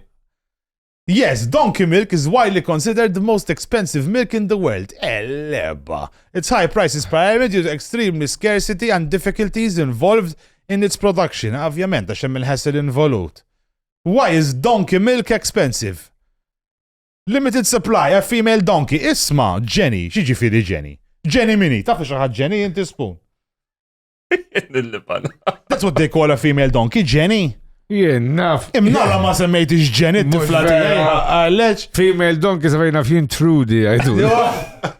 Yes, donkey milk is widely considered the most expensive milk in the world. Eleba. Its high price is primarily due to extremely scarcity and difficulties involved in its production. Ovvjament, għax hemm il-ħessel involut. Why is donkey milk expensive? Limited supply, a female donkey. Isma, Jenny, xi ġifieri Jenny? Jenny mini, taf xi ħadd Jenny inti spun. That's what they call a female donkey, Jenny. Jien, naf. Imnala ma semmejt iġġen it-tifla tiegħi. Għalex. Female donkey semmejna f'jien Trudy, għajdu.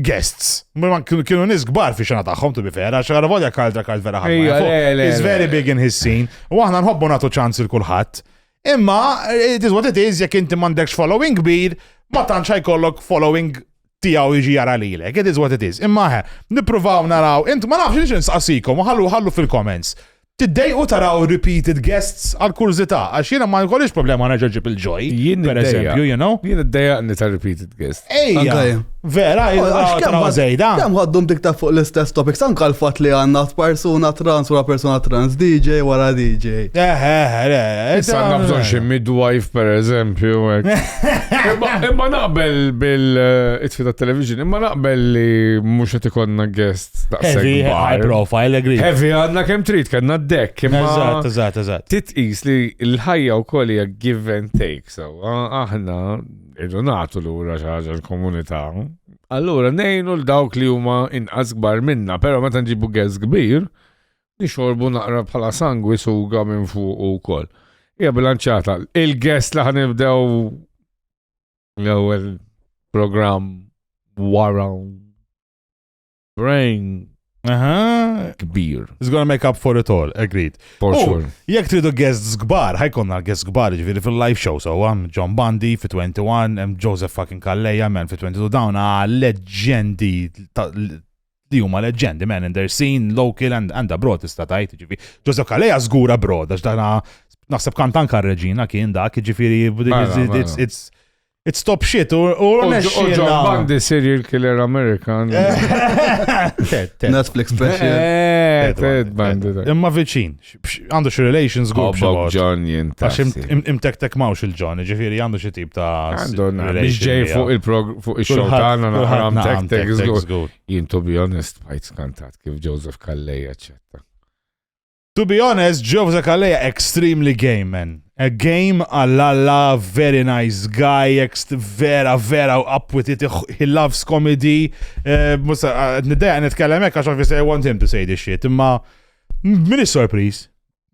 guests. Ma kienu nis gbar fi xena taħħom, tu bifera, xaħra volja kaldra kald vera ħafna. It's very big in his scene. U aħna nħobbu natu ċans il-kulħat. Imma, it is what it is, jek inti mandekx following kbir, ma tantx ħajkollok following tijaw iġi jara li l It is what it is. Imma ħe, nipruvaw naraw, int ma nafx nix nsaqsikom, ħallu ħallu fil-comments. Tiddejqu taraw repeated guests? Għal kurżità, għax jiena ma jkollix problema nerġa' ġġib il-Joy, per eżempju, you know? Jien iddejjaqni ta' repeated guests. Ejja, vera, taraw żejda. Kemm ħaddum tiktab fuq l-istess topics, anka l-fatt li għandna persuna trans wara persuna trans, DJ wara DJ. Eh, eh, eh. Issa għandna bżonn xi midwife, per eżempju. Imma naqbel bil-itfi ta' television, imma naqbel li mhux qed ikonna guests. Heavy, high profile, agree. Heavy għadna kem trid, kanna d-dek. Eżat, eżat, eżat. Titqis li l-ħajja u koll hija give and take, so aħna irdu nagħtu lura xi ħaġa l-komunità. Allura nejnu l-dawk li huma inqas kbar minna, però meta nġibu gez kbir, nixorbu naqra bħala sangwi suga minn fuq u koll. Ija bilanċata, il-gest li ħanibdew l-ewwel program wara Brain. Aha. Kbir. It's gonna make up for it all, agreed. For oh, sure. Jek tridu guests gbar, ħajkonna guests gbar ġviri fil-live show, so għam John Bundy fi 21, għam Joseph fucking Kalleja, man fi 22, dawn leġendi li huma leġendi, man, and they're seen local and, and abroad tista' tajt, ġifi. Joseph Kalleja zgur abroad, għax dana naħseb kantan kar reġina kien dak, ġifiri, it's, it's, it's It's top shit, u John Bundy serial killer Amerikan. Netflix special. Eh, Ted Bundy. Imma viċin, għandu xie relations għu. Bob John jintas. Għax imtektek mawx il-John, ġifiri għandu xie tip ta' Biex ġej fuq il-prog fuq il-xol tagħna naħram tektek żgur. Jien to be honest, bħajt skantat kif Joseph Kallej, eccetera. To be honest, Geoff Zakaleja extremely gay man. A game għall-alla, very nice guy, ext vera, vera up with it, he loves comedy. Eh, Musa, eh, nideja nitkellem hekk għax obviously I want him to say this shit, imma min is-sorpriż?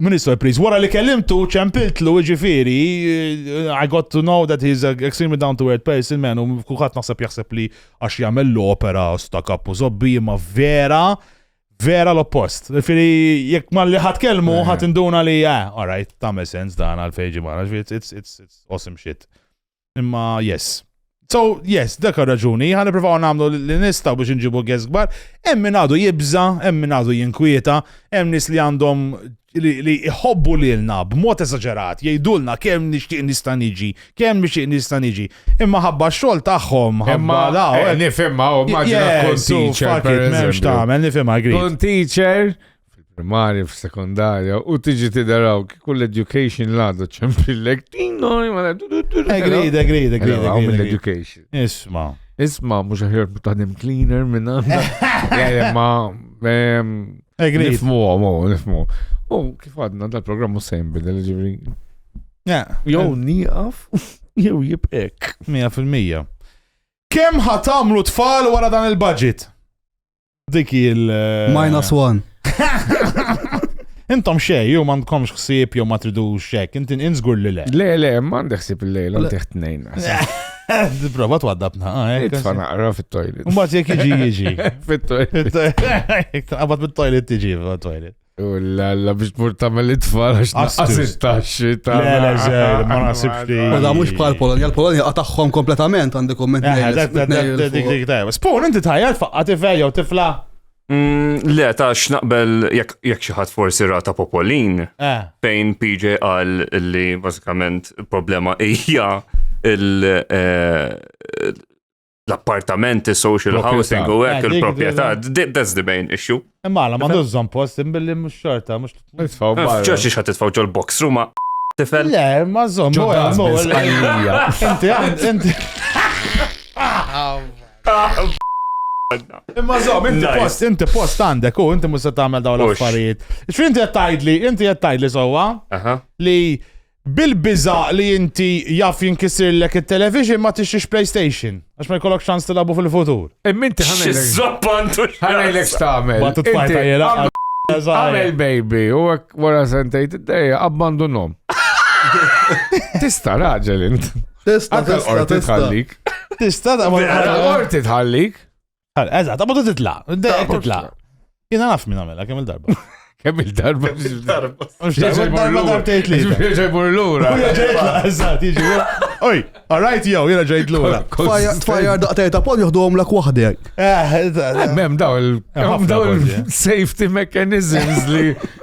Min is-sorpriż? Wara li kellimtu ċempiltlu ġifieri, eh, I got to know that he's a extremely down to earth person man u kulħadd naħseb jaħseb li għax jagħmel l-opera sta kappu zobbi imma vera Vera l-oppost. Fili, jek ma li ħat kelmu, eh. ħat induna li, ah, all right, tamel sens dan għal-fejġi marra, it's, it's, it's, it's awesome shit. Imma, yes. So, yes, dak raġuni, ħan niprofaw namlu li nistaw biex nġibu għezgbar, emmin għadu jibza, emmin għadu jinkwieta, emmin nis li għandhom li jħobbu lilna b'mod eżaġerat, jgħidulna kemm nixtieq nista' niġi, kemm nixtieq nista' niġi. Imma ħabba x-xogħol tagħhom, ħabba la. Eh, nifhimha, u maġina tkun teacher. M'hemmx tagħmel, nifhimha grid. Tkun teacher primarja f'sekondarja u tiġi tidaraw kull education l-għadu ċempillek. Agreed, agreed, agreed. Għaw mill-education. Isma. Isma, mux ħajr taħdim cleaner minna. Ma, Agreed. Nifmu għom, oh, nifmu. U kif għadna dal-programm u sejn bidel ġivri. Jow eh. niqaf, jow jibqek. 100%. Kem ħatamlu tfal wara dan il-budget? Dik il- eh, Minus one. Intom xej, jew ma għandkomx ħsieb jew ma tridux xek, intin inżgur li le. Le, le, ma għandek ħsieb il-lejla, għandek tnejn. Prova twaddab naqa, eh? Tfa naqra fit-toilet. Mbagħad jekk jiġi jiġi. Fit-toilet. Qabad mit-toilet tiġi fit-toilet. U l-alla biex tmur tamel it-tfal għax naqasit taxxi ta' l-eżel, ma nasibx li. U da mux bħal Polonia, l-Polonia għataxħom kompletament għandi komment. Spun, inti tajja, tfaqqa tifel jew tifla. Mm, le, ta' x'naqbel jekk xi ħadd forsi rata popolin, eh. fejn PJ qal li bażikament problema hija eh, l-appartamenti, social housing u hekk eh, il-proprjetà, that's the main issue. Imma la ma dużżon post imbilli mhux xorta, mhux titfaw. Ġox xi ħadd titfaw ġol box ruma tifel. Le, ma żomm, inti inti. Imma zom, inti post, inti post għandek u inti musa tagħmel dawn l-affarijiet. X'fin inti qed tgħidli, inti qed tgħidli sewwa li bil-biża li inti jaf jinkisirlek it-television ma tixtiex PlayStation għax ma jkollok ċans tilabu fil-futur. Imminti ħanajlek. X'żappantu ħanajlek x'tagħmel. Ma titfajta jela. Għamel baby, u għek wara sentejt id-dejja, abbandunom. Tista raġel int. Tista, tista, tista. Tista da ma Orti tħallik. Eżat, ma titla. Titla. Jina naf minn għamela, kemm il-darba. Kemm il-darba. Darba darba tgħid li. Ġej mur lura. Ġejtla, eżatt, jiġi. Oj, alright jew, jiena ġejt lura. Tfajjar daqtej ta' pol joħduhom lak waħdek. Eh, eh, eh, Mem daw il-safety mechanisms li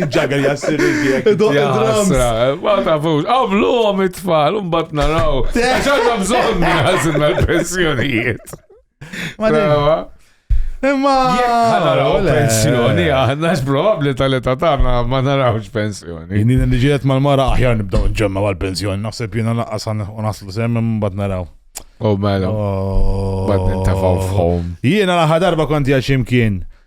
Ġagger jassir iżjek. Ma tafux, għamlu għom it-tfal, un bat naraw. Għaxħanna bżon għazin mal-pensjonijiet. Imma. Naraw pensjoni, għanna x-probabli tal-età tagħna ma narawx pensjoni. Inni li ġiet mal-mara aħjar nibdaw nġemma għal-pensjoni, naħseb jiena laqqas naslu semmi mbagħad naraw. Oh mela. Oh. Bad nintafaw f'ħom. Jiena laħa darba konti għaximkien.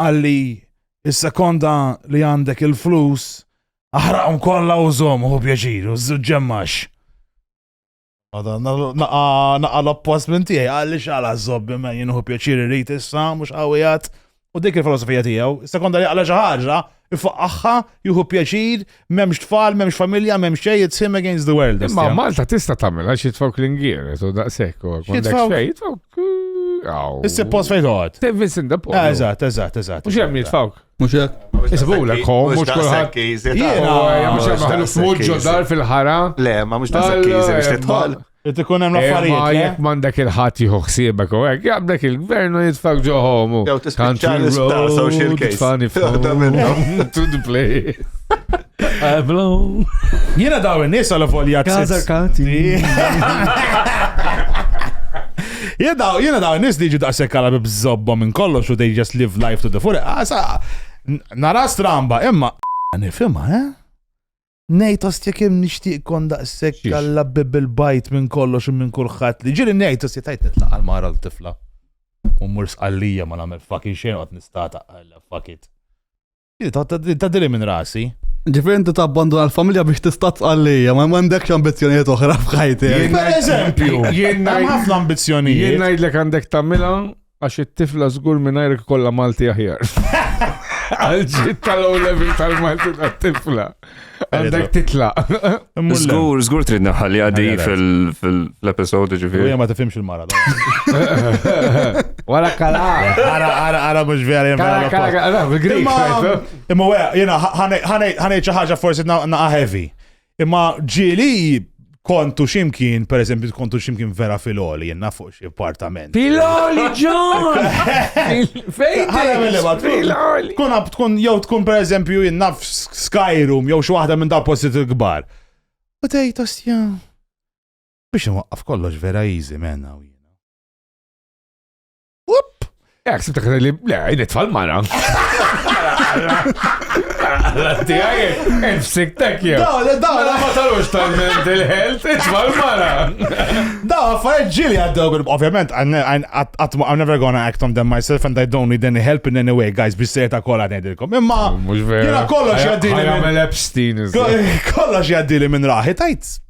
għalli is-sekonda li għandek il-flus aħraqhom kollha u żomm hu pjaċir u żġemmax. Naqa l-oppost minn tiegħi għalli xala żobbi ma jien hu pjaċir irid issa mhux qawwijat u dik il-filosofija tiegħu. Is-sekonda li għala xi ħaġa Ifaqqaħħa, jieħu pjaċir, m'hemmx tfal, m'hemmx familja, m'hemm xejn, it's him against the world. Ma Malta tista' tagħmilha xi tfawk l-ingier, so daqshekk u għandek xejn, tfawk. Issib post fejn toqgħod. Tevis in the post. Ah, eżatt, eżatt, eżatt. Mhux hemm jitfawk. Mhux hekk. Isibulek hom mhux kulħadd. Jiena mhux hemm ħaluf mhux ġodar fil-ħara. Le, ma mhux daqshekk kiżi biex titħol. Qed ikun hemm affarijiet. Ma jekk m'għandek il-ħadd jieħu ħsiebek u hekk, jaqbdek il-gvern u jitfak ġo ħomu. Jew tispiċċa l-isptar social case. Fani f'ħoda minnhom. To the play. Jiena daw in-nies għal volja Kazar kati. Jiena daw, jiena daw in-nies li ġu daqshekk għal bżobba minn kollox u they just live life to the full. Nara stramba, imma nifhimha, eh? Nejt ostja kem nishtiq kon daqsek għalla bibbil bajt minn kollox u minn kulħadd li ġiri nejt ostja tajt nitlaq għal mara l-tifla. U mur sqallija ma nagħmel fucking xejn qed nistata għalla fuck it. Ta' dili minn rasi. Ġifir inti ta' abbanduna l-familja biex tista' tqallija, ma m'għandekx ambizzjonijiet oħra f'ħajti. Per eżempju, jien ħafna ambizzjonijiet. Jien ngħidlek għandek tagħmilha Għax it-tifla żgur mingħajrek kollha Malti aħjar. Għalġit tal-low level tal-Malti tat-tifla. Għandek titla. Żgur, żgur trid naħħalli għaddi fil-episode ġifieri. Hija ma tifhimx il-mara. Wara kala. Ara, ara, ara mhux vera jemma. Kala, bil-Grik. Imma wera, jiena ħanejt xi ħaġa forsi na' heavy. Imma ġili kontu ximkien, per eżempju, kontu ximkien vera fil-oli, jenna fuq xie appartament. Fil-oli, John! Fejn? Kun għab tkun, jow tkun per eżempju, jenna Skyroom, jow xie wahda minn dal postit il-gbar. U tej, tosja. Biex nwaqqaf kollox vera easy, menna u jena. Ek, sibta kħan li, le, jini tfal mara. Għallanti għaj, nfsik tek jew. Daw, le, daw, la ma talux tal-mental health, tfal mara. Daw, għaffariet ġili għaddew, ovvjament, I'm never gonna act on them myself and I don't need any help in any way, guys, biex sejta kolla nejdilkom. Imma, jina kollox jaddili. Għamel Epstein. Kollox jaddili minn raħi, tajt.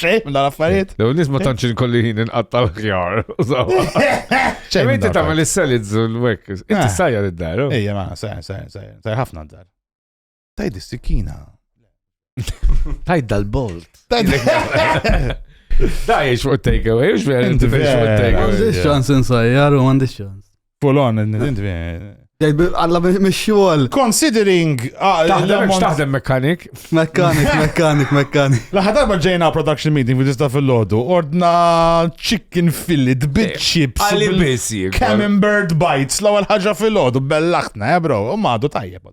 Xejn, minn affarijiet. Lew nisma tantx inkolli ħin inqatta l-ħjar. Xejn. Inti tagħmel is-salids u l-wek. Inti eh. sajja id-dar. Oh. Ejja, ma, sajja, sajja, sajja. Sajja ħafna d-dar. Tajd is-sikina. Tajd dal-bolt. Tajd. Da jiex fuq take away, jiex vera inti fuq take away. Għandix ċans insajjar u għandix ċans. Pull on, Għalla mxol. Considering. Ah, taħdem mekanik. Mekanik, mekanik, mekanik. Laħħa darba ġejna production meeting fi tista fil-lodu. Ordna chicken fillet, bit eh, chips. Għalli bisi. Camembert bites, l-ewwel ħaġa fil-lodu, bellaħtna, eh, bro. U madu tajjeb.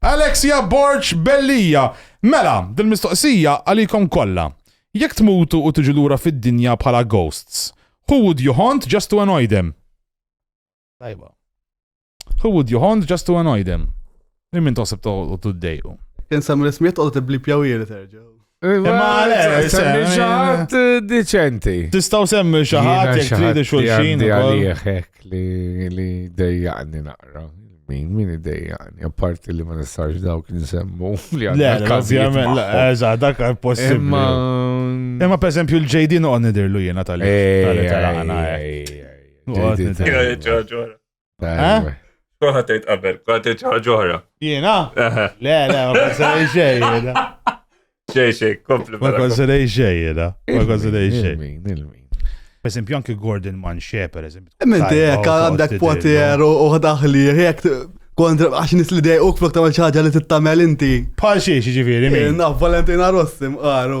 Alexia Borg Bellija, Mela, dil-mistoqsija għalikom kollha. Jekk tmutu u tiġu lura fid-dinja bħala ghosts, who would you haunt just to annoy them? Tajba. Who would you haunt just to annoy them? Lil min toħseb toqgħodu ddejqu? Kien sem l-ismijiet toqgħodu tibblipjaw ieri terġa'. Imma għalek, semmi xaħat diċenti. Tistaw semmi xaħat jek tridi xulxin. Għalieħek li dejjaqni naqra. Min, min dejjaqni, apparti li ma nistax dawk nsemmu li għadda. Ovvijament, eża, dak possibli. Imma per esempio l-JD noqon nidirlu jena tal-li. Eh? Kont għatejt qabel, kont għatejt ġoħra. Jena? Le, le, ma konsiderej xej, jena. Xej, xej, kompli. Ma konsiderej xej, jena. Ma konsiderej xej. Per esempio, anki Gordon Manche, per esempio. Menti, jek għandek poter u daħli, jek kontra għax nis li dej u flok tamal ċaġa li t-tamel inti. Pal xie, ġifiri, minn. Naf, Valentina Rossi, mqaru.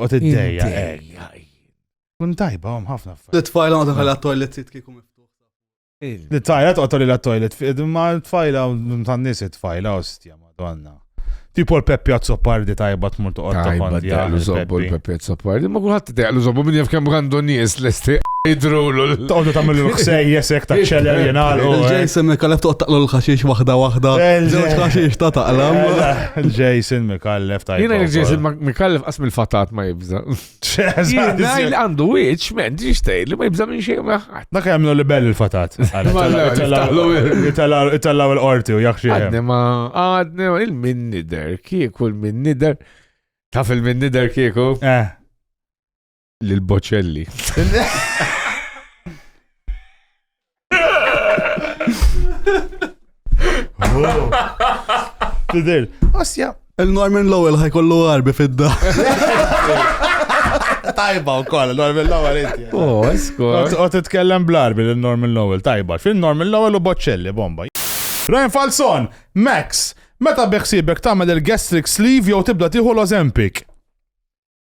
Għot id-dejja, ejja. Kun tajba, għom ħafna f L-tfajla għodha għal toilet sit kiku miftuħ. L-tfajla għodha għal toilet fit, ma l-tfajla tan nis it-tfajla, ostja, madonna. Tipo l-Peppi Azzopardi tajba tmur toqgħod Tajba daqlu zobbu l-Peppi Azzopardi, ma kulħadd daqlu zobbu minn jaf kemm għandu nies lesti jidrulu. Toqgħodu tagħmel l-ħsej jesek ta' ċeler jingħalqu. Ġejsen kalab toqgħod taqlu l-ħaxix waħda waħda. Ġewġ ħaxix ta' taqlam. Jason Mikallef ta' Jina Jason Mikallef qasm il-fatat ma jibza. Jina il għandu wieċ, men, ġiġ tgħid li ma jibza minn xejn maħħat. Dak jagħmlu li bell il-fatat. Itallaw il-qorti u jaħxie. Għadni ma għadni il-min nider, kieku il-min nider. Taf il-min nider kieku? Eh. Lil Bocelli. Tidil, osja. Il-Norman Lowell ħajkollu għarbi fidda. Tajba u koll, Norman Lowell inti. Oh, eskor. U titkellem bl-arbi l-Norman Lowell, tajba. Fin Norman Lowell u Bocelli, bomba. Ryan Falson, Max, meta biħsibek tagħmel il-gastric sleeve jew tibda tieħu l-Ozempic?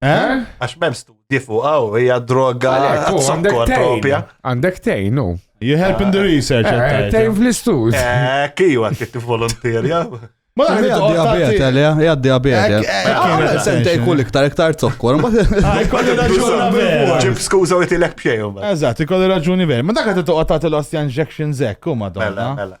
Eh? Għax mem studji fuq għaw, hija droga zokkor propja. Għandek tejn, no? You help in the research. Eh, tejn fl-istus. Eh, kiju għak kitti volontirja. Ma għaddi għabiet, għalja, għaddi għabiet. Għaddi sentej kull iktar, iktar zokkor. Għaddi raġuni vera. Ġib skuza u jitilek bxejum. Eżat, ikolli raġuni vera. Ma dak għaddi toqgħod tagħti l-ostja injection zekk, u madonna. Mela, mela.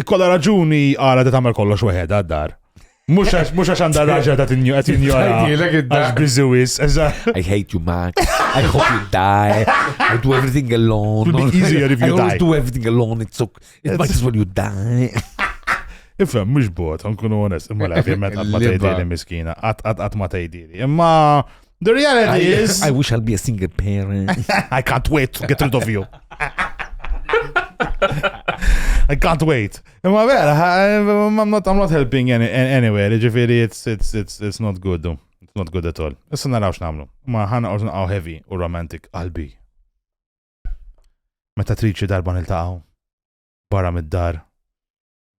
Ikkolla raġuni għala ta' tagħmel kollox weħed għad-dar. Mux għax għanda raġa ta' tinju għet tinju għax bizzewis. I hate you Max. I hope you die. I do everything alone. It'll be easier if you die. I always do everything alone. It's so, it might as well you die. Ifem, mux bot, għankunu għones, imma la, ovvijament għat ma tajdili miskina, għat ma tajdili. Imma The reality I, is. I wish I'll be a single parent. I can't wait to get rid of you. I can't wait. Imma vera, I'm not, I'm not helping any, anywhere. Ġifiri, it's, it's, it's, it's not good. It's not good at all. Issa narawx namlu. Ma ħana ordu naqaw heavy u romantic qalbi. Meta triċi darba nil-taqaw. Barra mid-dar.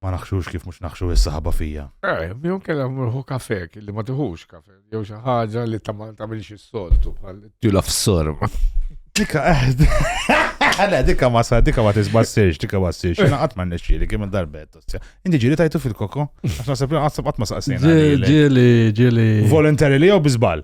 ma naħxux kif mhux naħxu is-saħaba fija. Eh, jew kellha murħu kafe li ma tiħux kafe, jew xi ħaġa li ta' ma tagħmilx is-soltu bħal tila f'sorm. Dika eħd. Eh, le, dika ma sa, dika ma tisbassirx, dika ma ssirx. Jena qatt ma nixxieli kemm darbet. Inti ġieli tajtu fil-koko? Għax naħseb li qatt qatt ma saqsejna. Ġieli, ġieli. Volontarily jew biżbal?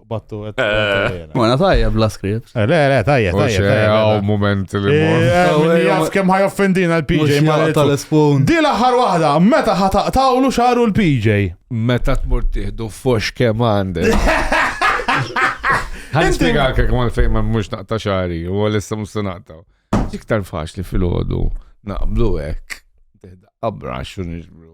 battu għet. Mona tajjeb la skript. Eh, le, le, tajjeb, tajjeb. Għaw moment li eh, mor. Eh, jaf kem ħaj offendina l-PJ ma tal-espun. Di laħar wahda, meta ħataqtawlu xaru l-PJ. Meta tmur tiħdu fox kem għandek. Għan spiegħak kek ma l-fejn ma mux naqta xari, u għal-issa mus naqta. Iktar faċli fil-ħodu, naqblu ek. Abra xun iġbru.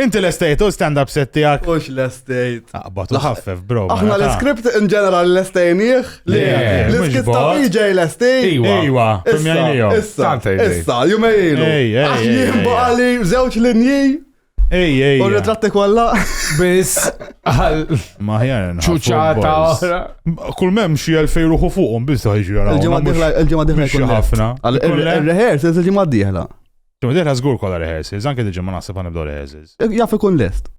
Inti l-estate u stand-up set tijak. Ux l-estate. Aqbat u ħaffef, bro. Aħna l-script in ġeneral l-estajniħ. L-skit ta' BJ l-estate. Iwa, issa, issa, issa, jumejlu. Għax jien baqali zewċ linji. Ej, ej. U ritratti kolla. Bis. Maħjar. ċuċata oħra. Kull mem xie l-fej ruħu fuqom, bis ħajġi għara. Il-ġemma diħla, il-ġemma diħla. Xie ħafna. Il-reħer, se il-ġemma diħla. Ġimgħa dieħla żgur kollha rehearsals, anke dil-ġimgħa naħseb ħa nibdew rehearsals. Jaf ikun lest.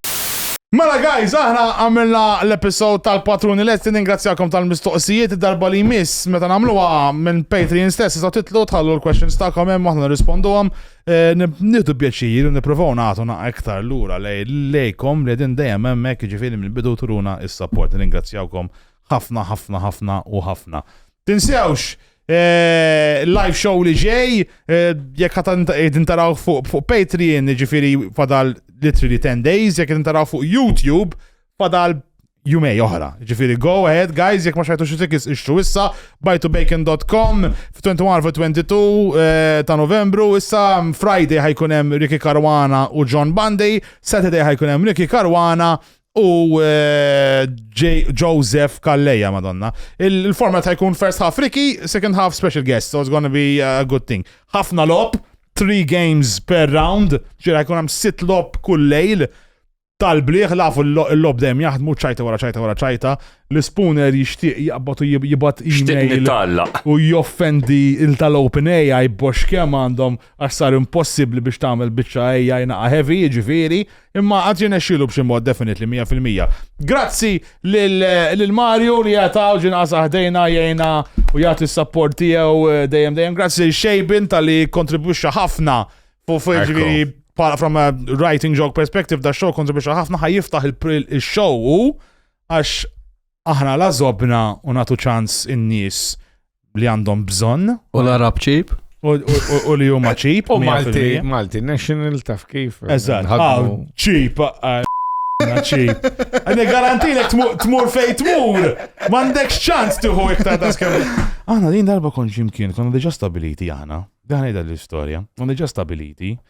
Mela guys, aħna għamilna l-episode tal-patruni lesti, ningrazzjakom tal-mistoqsijiet, id-darba li jmiss meta nagħmluha minn Patreon stess tistgħu titlu tħallu l-questions tagħkom hemm aħna nirrisponduhom. Eh, nieħdu pjaċir u nippruvaw nagħtu naqgħa iktar lura lejkom li din dejjem hemmhekk jiġifieri mill-bidu turuna is-support. Ningrazzjawkom Ħafna, ħafna, ħafna u ħafna. Tinsewx, Eh, live show li ġej, eh, jekk għatan tintaraw fuq Patreon, ġifiri fadal literally 10 days, jekk tintaraw fuq YouTube, fadal jumej oħra. Ġifiri, go ahead, guys, jek ma xajtu xie tikis ixtru issa, bajtubacon.com, f-21 f-22 eh, ta' novembru, issa mm, Friday ħajkunem Ricky Karwana u John Bundy, Saturday ħajkunem Ricky Karwana u eh, Joseph Kalleja, madonna. Il-format ta' jkun first half Ricky, second half special guest, so it's gonna be a good thing. Ħafna lob, three games per round, ġira jkun hemm sit lob kull lejl, tal-bliħ lafu l-lob dem jaħdmu ċajta wara ċajta wara ċajta, l-spooner jixtieq jaqbad u jibat email u joffendi il-tal-open AI box kem għandhom għassar impossibli biex tagħmel biċċa AI naqa heavy ġifieri Imma għad jirnexxielu b'xi mod definitely 100%. Grazzi lil Mario li jataw ġinqas aħdejna jgħina u jagħti s-sapport tiegħu eh, dejjem dejjem. Grazzi lil Xejbin tal-li kontribwixxa ħafna fuq ġifieri bħala from a writing joke perspective da show kontribwixxa ħafna ħaj jiftaħ il-show għax Aħna la żobna u nagħtu ċans in-nies li għandhom bżonn. U l-Arab ċip? U li huma ċip. U Malti, Malti, national taf kif. Eżatt, ċip, ċip. Għadni garantilek tmur fej tmur, mandek ċans tiħu iktar ta' skemm. Aħna din darba kon ġimkien, konna diġa stabiliti aħna, daħna l-istoria, konna diġa stabiliti,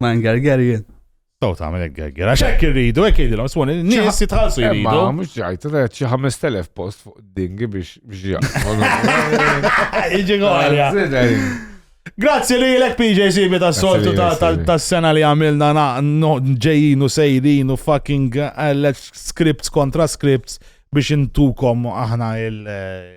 Ma' ngergerjen. Taw ta' għamil għegger, għax hekk irridu, hekk jgħidilhom, swoni, nies jitħallsu jridu. Ma mhux ġajt, red xi 5000 post fuq dingi biex biex jaqgħu. Iġi għalja. Grazzi li l-ek PJ Sibi ta' soltu ta' sena li għamilna ġejjinu sejrinu fucking eh, scripts kontra scripts biex intukom aħna il- eh,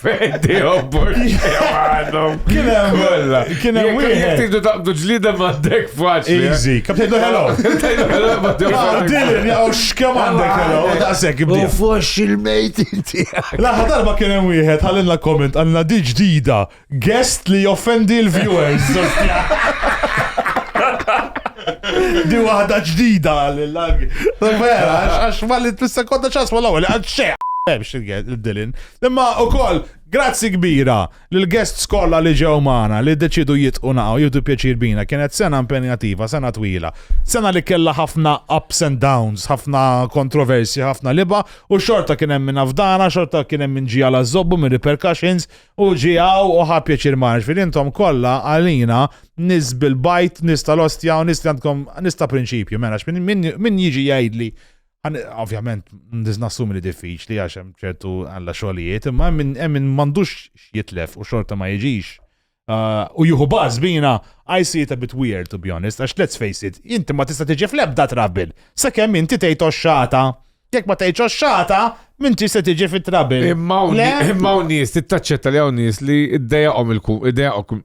Fejdi obbor. Kien hemm kollha. Kien hemm wieħed. Jekk tidu taqdu ġlida m'għandek faċli. Eh? Easy. Kif tgħidu hello? Tgħidu hello ma tgħidu. Ah, Dilin jaqgħu x'kemm għandek hello. Daqshekk ibdi. U fux il-mejt inti. L-aħħar darba kien hemm wieħed ħallilna komment għandna di ġdida guest li offendi l-viewers. Di waħda ġdida għal-lag. Vera, għax ma li t-sekonda ċas ma l-għu, għax xeq. Bemx il-dilin, Imma ukoll grazzi kbira lill-guests kollha li ġew magħna li ddeċiedu jitqu naqgħu jieħdu pjaċir bina. Kienet sena impenjattiva, sena twila. Sena li kellha ħafna ups and downs, ħafna kontroversji, ħafna libgħa u xorta kien hemm min afdana, xorta kien hemm min ġie għal ażżobbu mir-repercussions u ġie hawn u ħa pjaċir magħna. Ġifieri intom kollha għalina nies bil-bajd, nies tal-ostja u nies li għandkom nies ta' prinċipju. Mela min jiġi jgħidli Għan, ovvjament, niz nassumi li diffiċli għax hemm ċertu għalla xogħlijiet, imma hemm min m'għandux jitlef u xorta ma jiġix. Uh, u juhu baż bina, I see it a bit weird to be honest, għax let's face it, inti ma tista' tiġi fl-ebda trabil, sakemm inti tgħid xata. Jekk ma tgħidx xata, minn tista' tiġi fit-trabil. Imma hawn nies tittaċċetta li hawn nies li id-dejaqhom il-kum, id-dejaqhom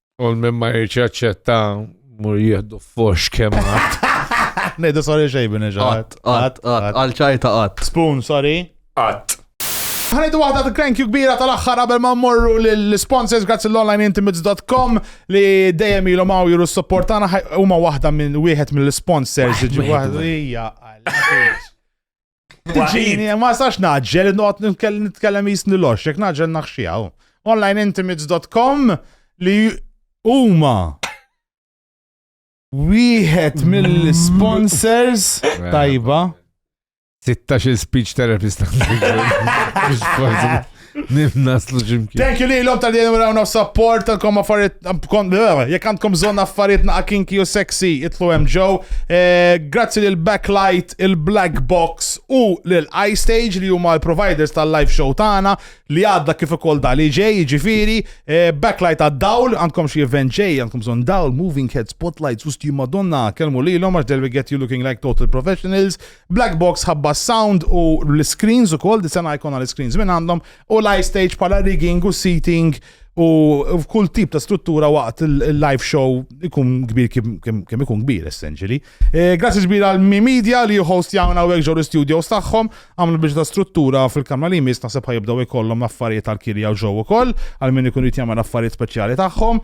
U minn ma jirċi aċċetta mur jihdu fox kemm għat. Nejdu sorry xejbin iġat. Għat, għat, għalċajta għat. Spoon, sorry. Għat. Ħanidu waħda ta' krenk kbira tal-axħar qabel ma morru l-sponsors grazzi l-onlineintimates.com li dejjem ilhom hawn jiru s-support tagħna huma waħda minn wieħed mill-sponsors. Ġifieri Tiġini, ma sax naġġel, noqgħod nitkellem jisni lox, jekk naġġel naħxijaw. Onlineintimates.com li huma wieħed mill-sponsors tajba. 16 speech therapist. Nimnaslu ximkien. Thank you lilhom tal jenu rawna u support tal-kom affarijiet eh, jekk għandkom bżonn affarijiet naqa' kinki u sexy itlu hemm ġew. Eh, grazzi lil Backlight, il-Black Box u lil iStage li huma l-providers tal-live show tagħna li għadda kif ukoll dali ġej, jiġifieri eh, Backlight għad-dawl, għandkom xi event ġej, għandkom bżonn dawl, moving head, spotlights, u sti madonna, kelmu lilhom għax they'll get you looking like total professionals. Black box ħabba s-sound u l-iscreens ukoll, di sena jkollna l-iscreens minn għandhom, u l-ice stage bħala rigging u seating u f'kull tip ta' struttura waqt il-live show ikun kbir kemm ikun kbir essentially. Eh, grazzi kbir għal Mi Media li host jawna u ġew l-studios tagħhom, għamlu biex ta' struttura fil-kamra li jmiss naħseb ħajibdew ikollhom l-affarijiet tal-kirja u ġew ukoll għal min ikun jrid jagħmel affarijiet speċjali tagħhom.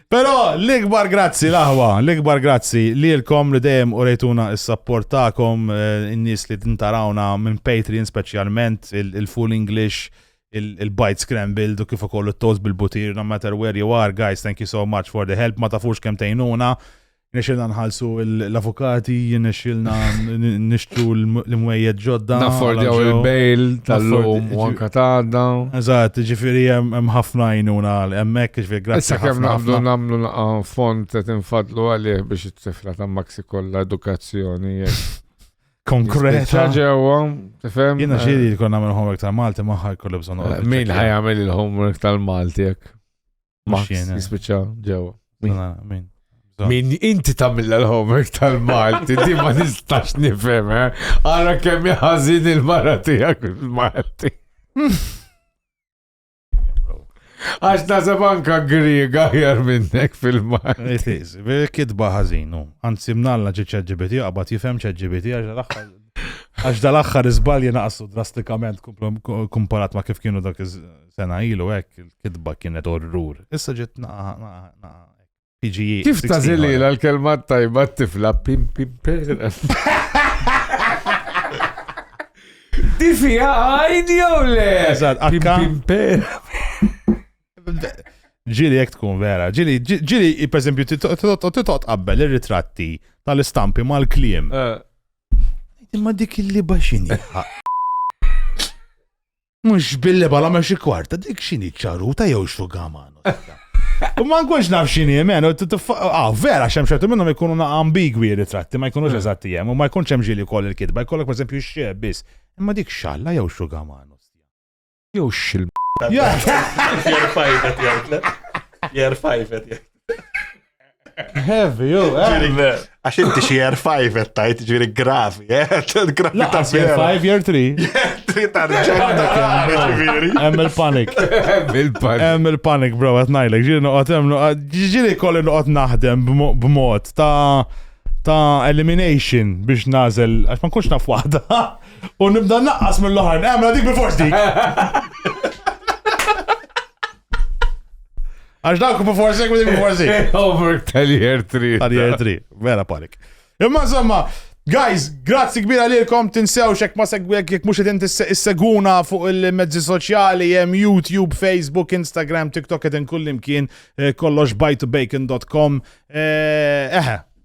Pero l-ikbar grazzi laħwa, l-ikbar grazzi li l-kom li dejjem u rejtuna s-sapport ta'kom, eh, n-nis li tintarawna minn Patreon specialment, il-Full English, il-Bite Scrambled u kif ukoll il-Toast bil-Butir, no matter where you are, guys, thank you so much for the help, ma tafux kem tejnuna. Nexilna nħalsu l-avukati, nexilna nishtu l-mwejjed ġodda. Naffordjaw il-bail tal-lum u anka tadda. Eżat, ġifiri hemm ħafna jnuna hemmhekk ġifiri grazzi. Issa kemm naqblu nagħmlu naqan fond qed infadlu għalih biex it-tifla ta' Maxi kollha edukazzjoni konkreta. ġewwa, tifhem? Jiena eh. xiri jkun nagħmel homework tal-Malti maħħa jkollu bżonn. Eh, min ħajamel il-homework tal-Malti jekk? Max jispiċċa ġewwa. Min? Min inti tamilla l-homework tal-Malti, di ma nistax nifhem, eh? Ara kemm jaħazin il-mara tiegħek il-Malti. Għax nasab anka griega jar minnek fil-Malti. It is, kitba ħażinu. Anzi mnalla ġi ċeġibiti, għabat jifhem ċeġibiti, għax l-axħar. Għax dal-axħar iżbalji naqsu drastikament kumparat ma kif kienu dak sena ilu hekk il-kitba kienet orrur. Issa ġiet PGE. Kif ta' zilila l-kelma tajba t-tifla pim pim pera. Di fija għajn jew le? Eżat, akka. Ġili jek tkun vera, ġili, ġili, per esempio, titot qabbel il-ritratti tal-istampi mal-klim. Eh. Imma dik il-liba xini. Mux billi bala ma xi kwarta, dik xini ċaruta jew xugamano. U ma nkunx naf xini jemen, ah, vera, xem xertu minnum ikunu na ambigwi ritratti, ma jkunux eżatti jem, u ma jkunx hemm ġili koll il-kitba, jkollok per esempio xie biss. Imma dik xalla jew xugamano. Jew xil. Jerfajfet jgħidlek. Jerfajfet jgħidlek. Heavy, jo, eh. Għax inti xie year 5 et tajt ġiri gravi, eh. Gravi ta' year 5, year 3. Year 3 ta' ġiri. Hemm il-panik. Hemm il-panik, bro, għat najlek. Ġiri noqot hemm, ġiri kolli noqot naħdem b'mod ta' ta' elimination biex nazel, għax ma nkunx naf waħda. U nibda naqqas mill-oħar, għamla dik bil-fors dik. Għax dawk bu forsi, kmini bu forsi. Over tal-year 3. Tal-year 3, vera panik. Imma insomma, Guys, grazzi kbira lilkom, tinsew xek ma segwek jek mux edin seguna fuq il-mezzi soċjali, jem YouTube, Facebook, Instagram, TikTok, edin kullimkien, eh, kollox bytobacon.com. Eh, eħe,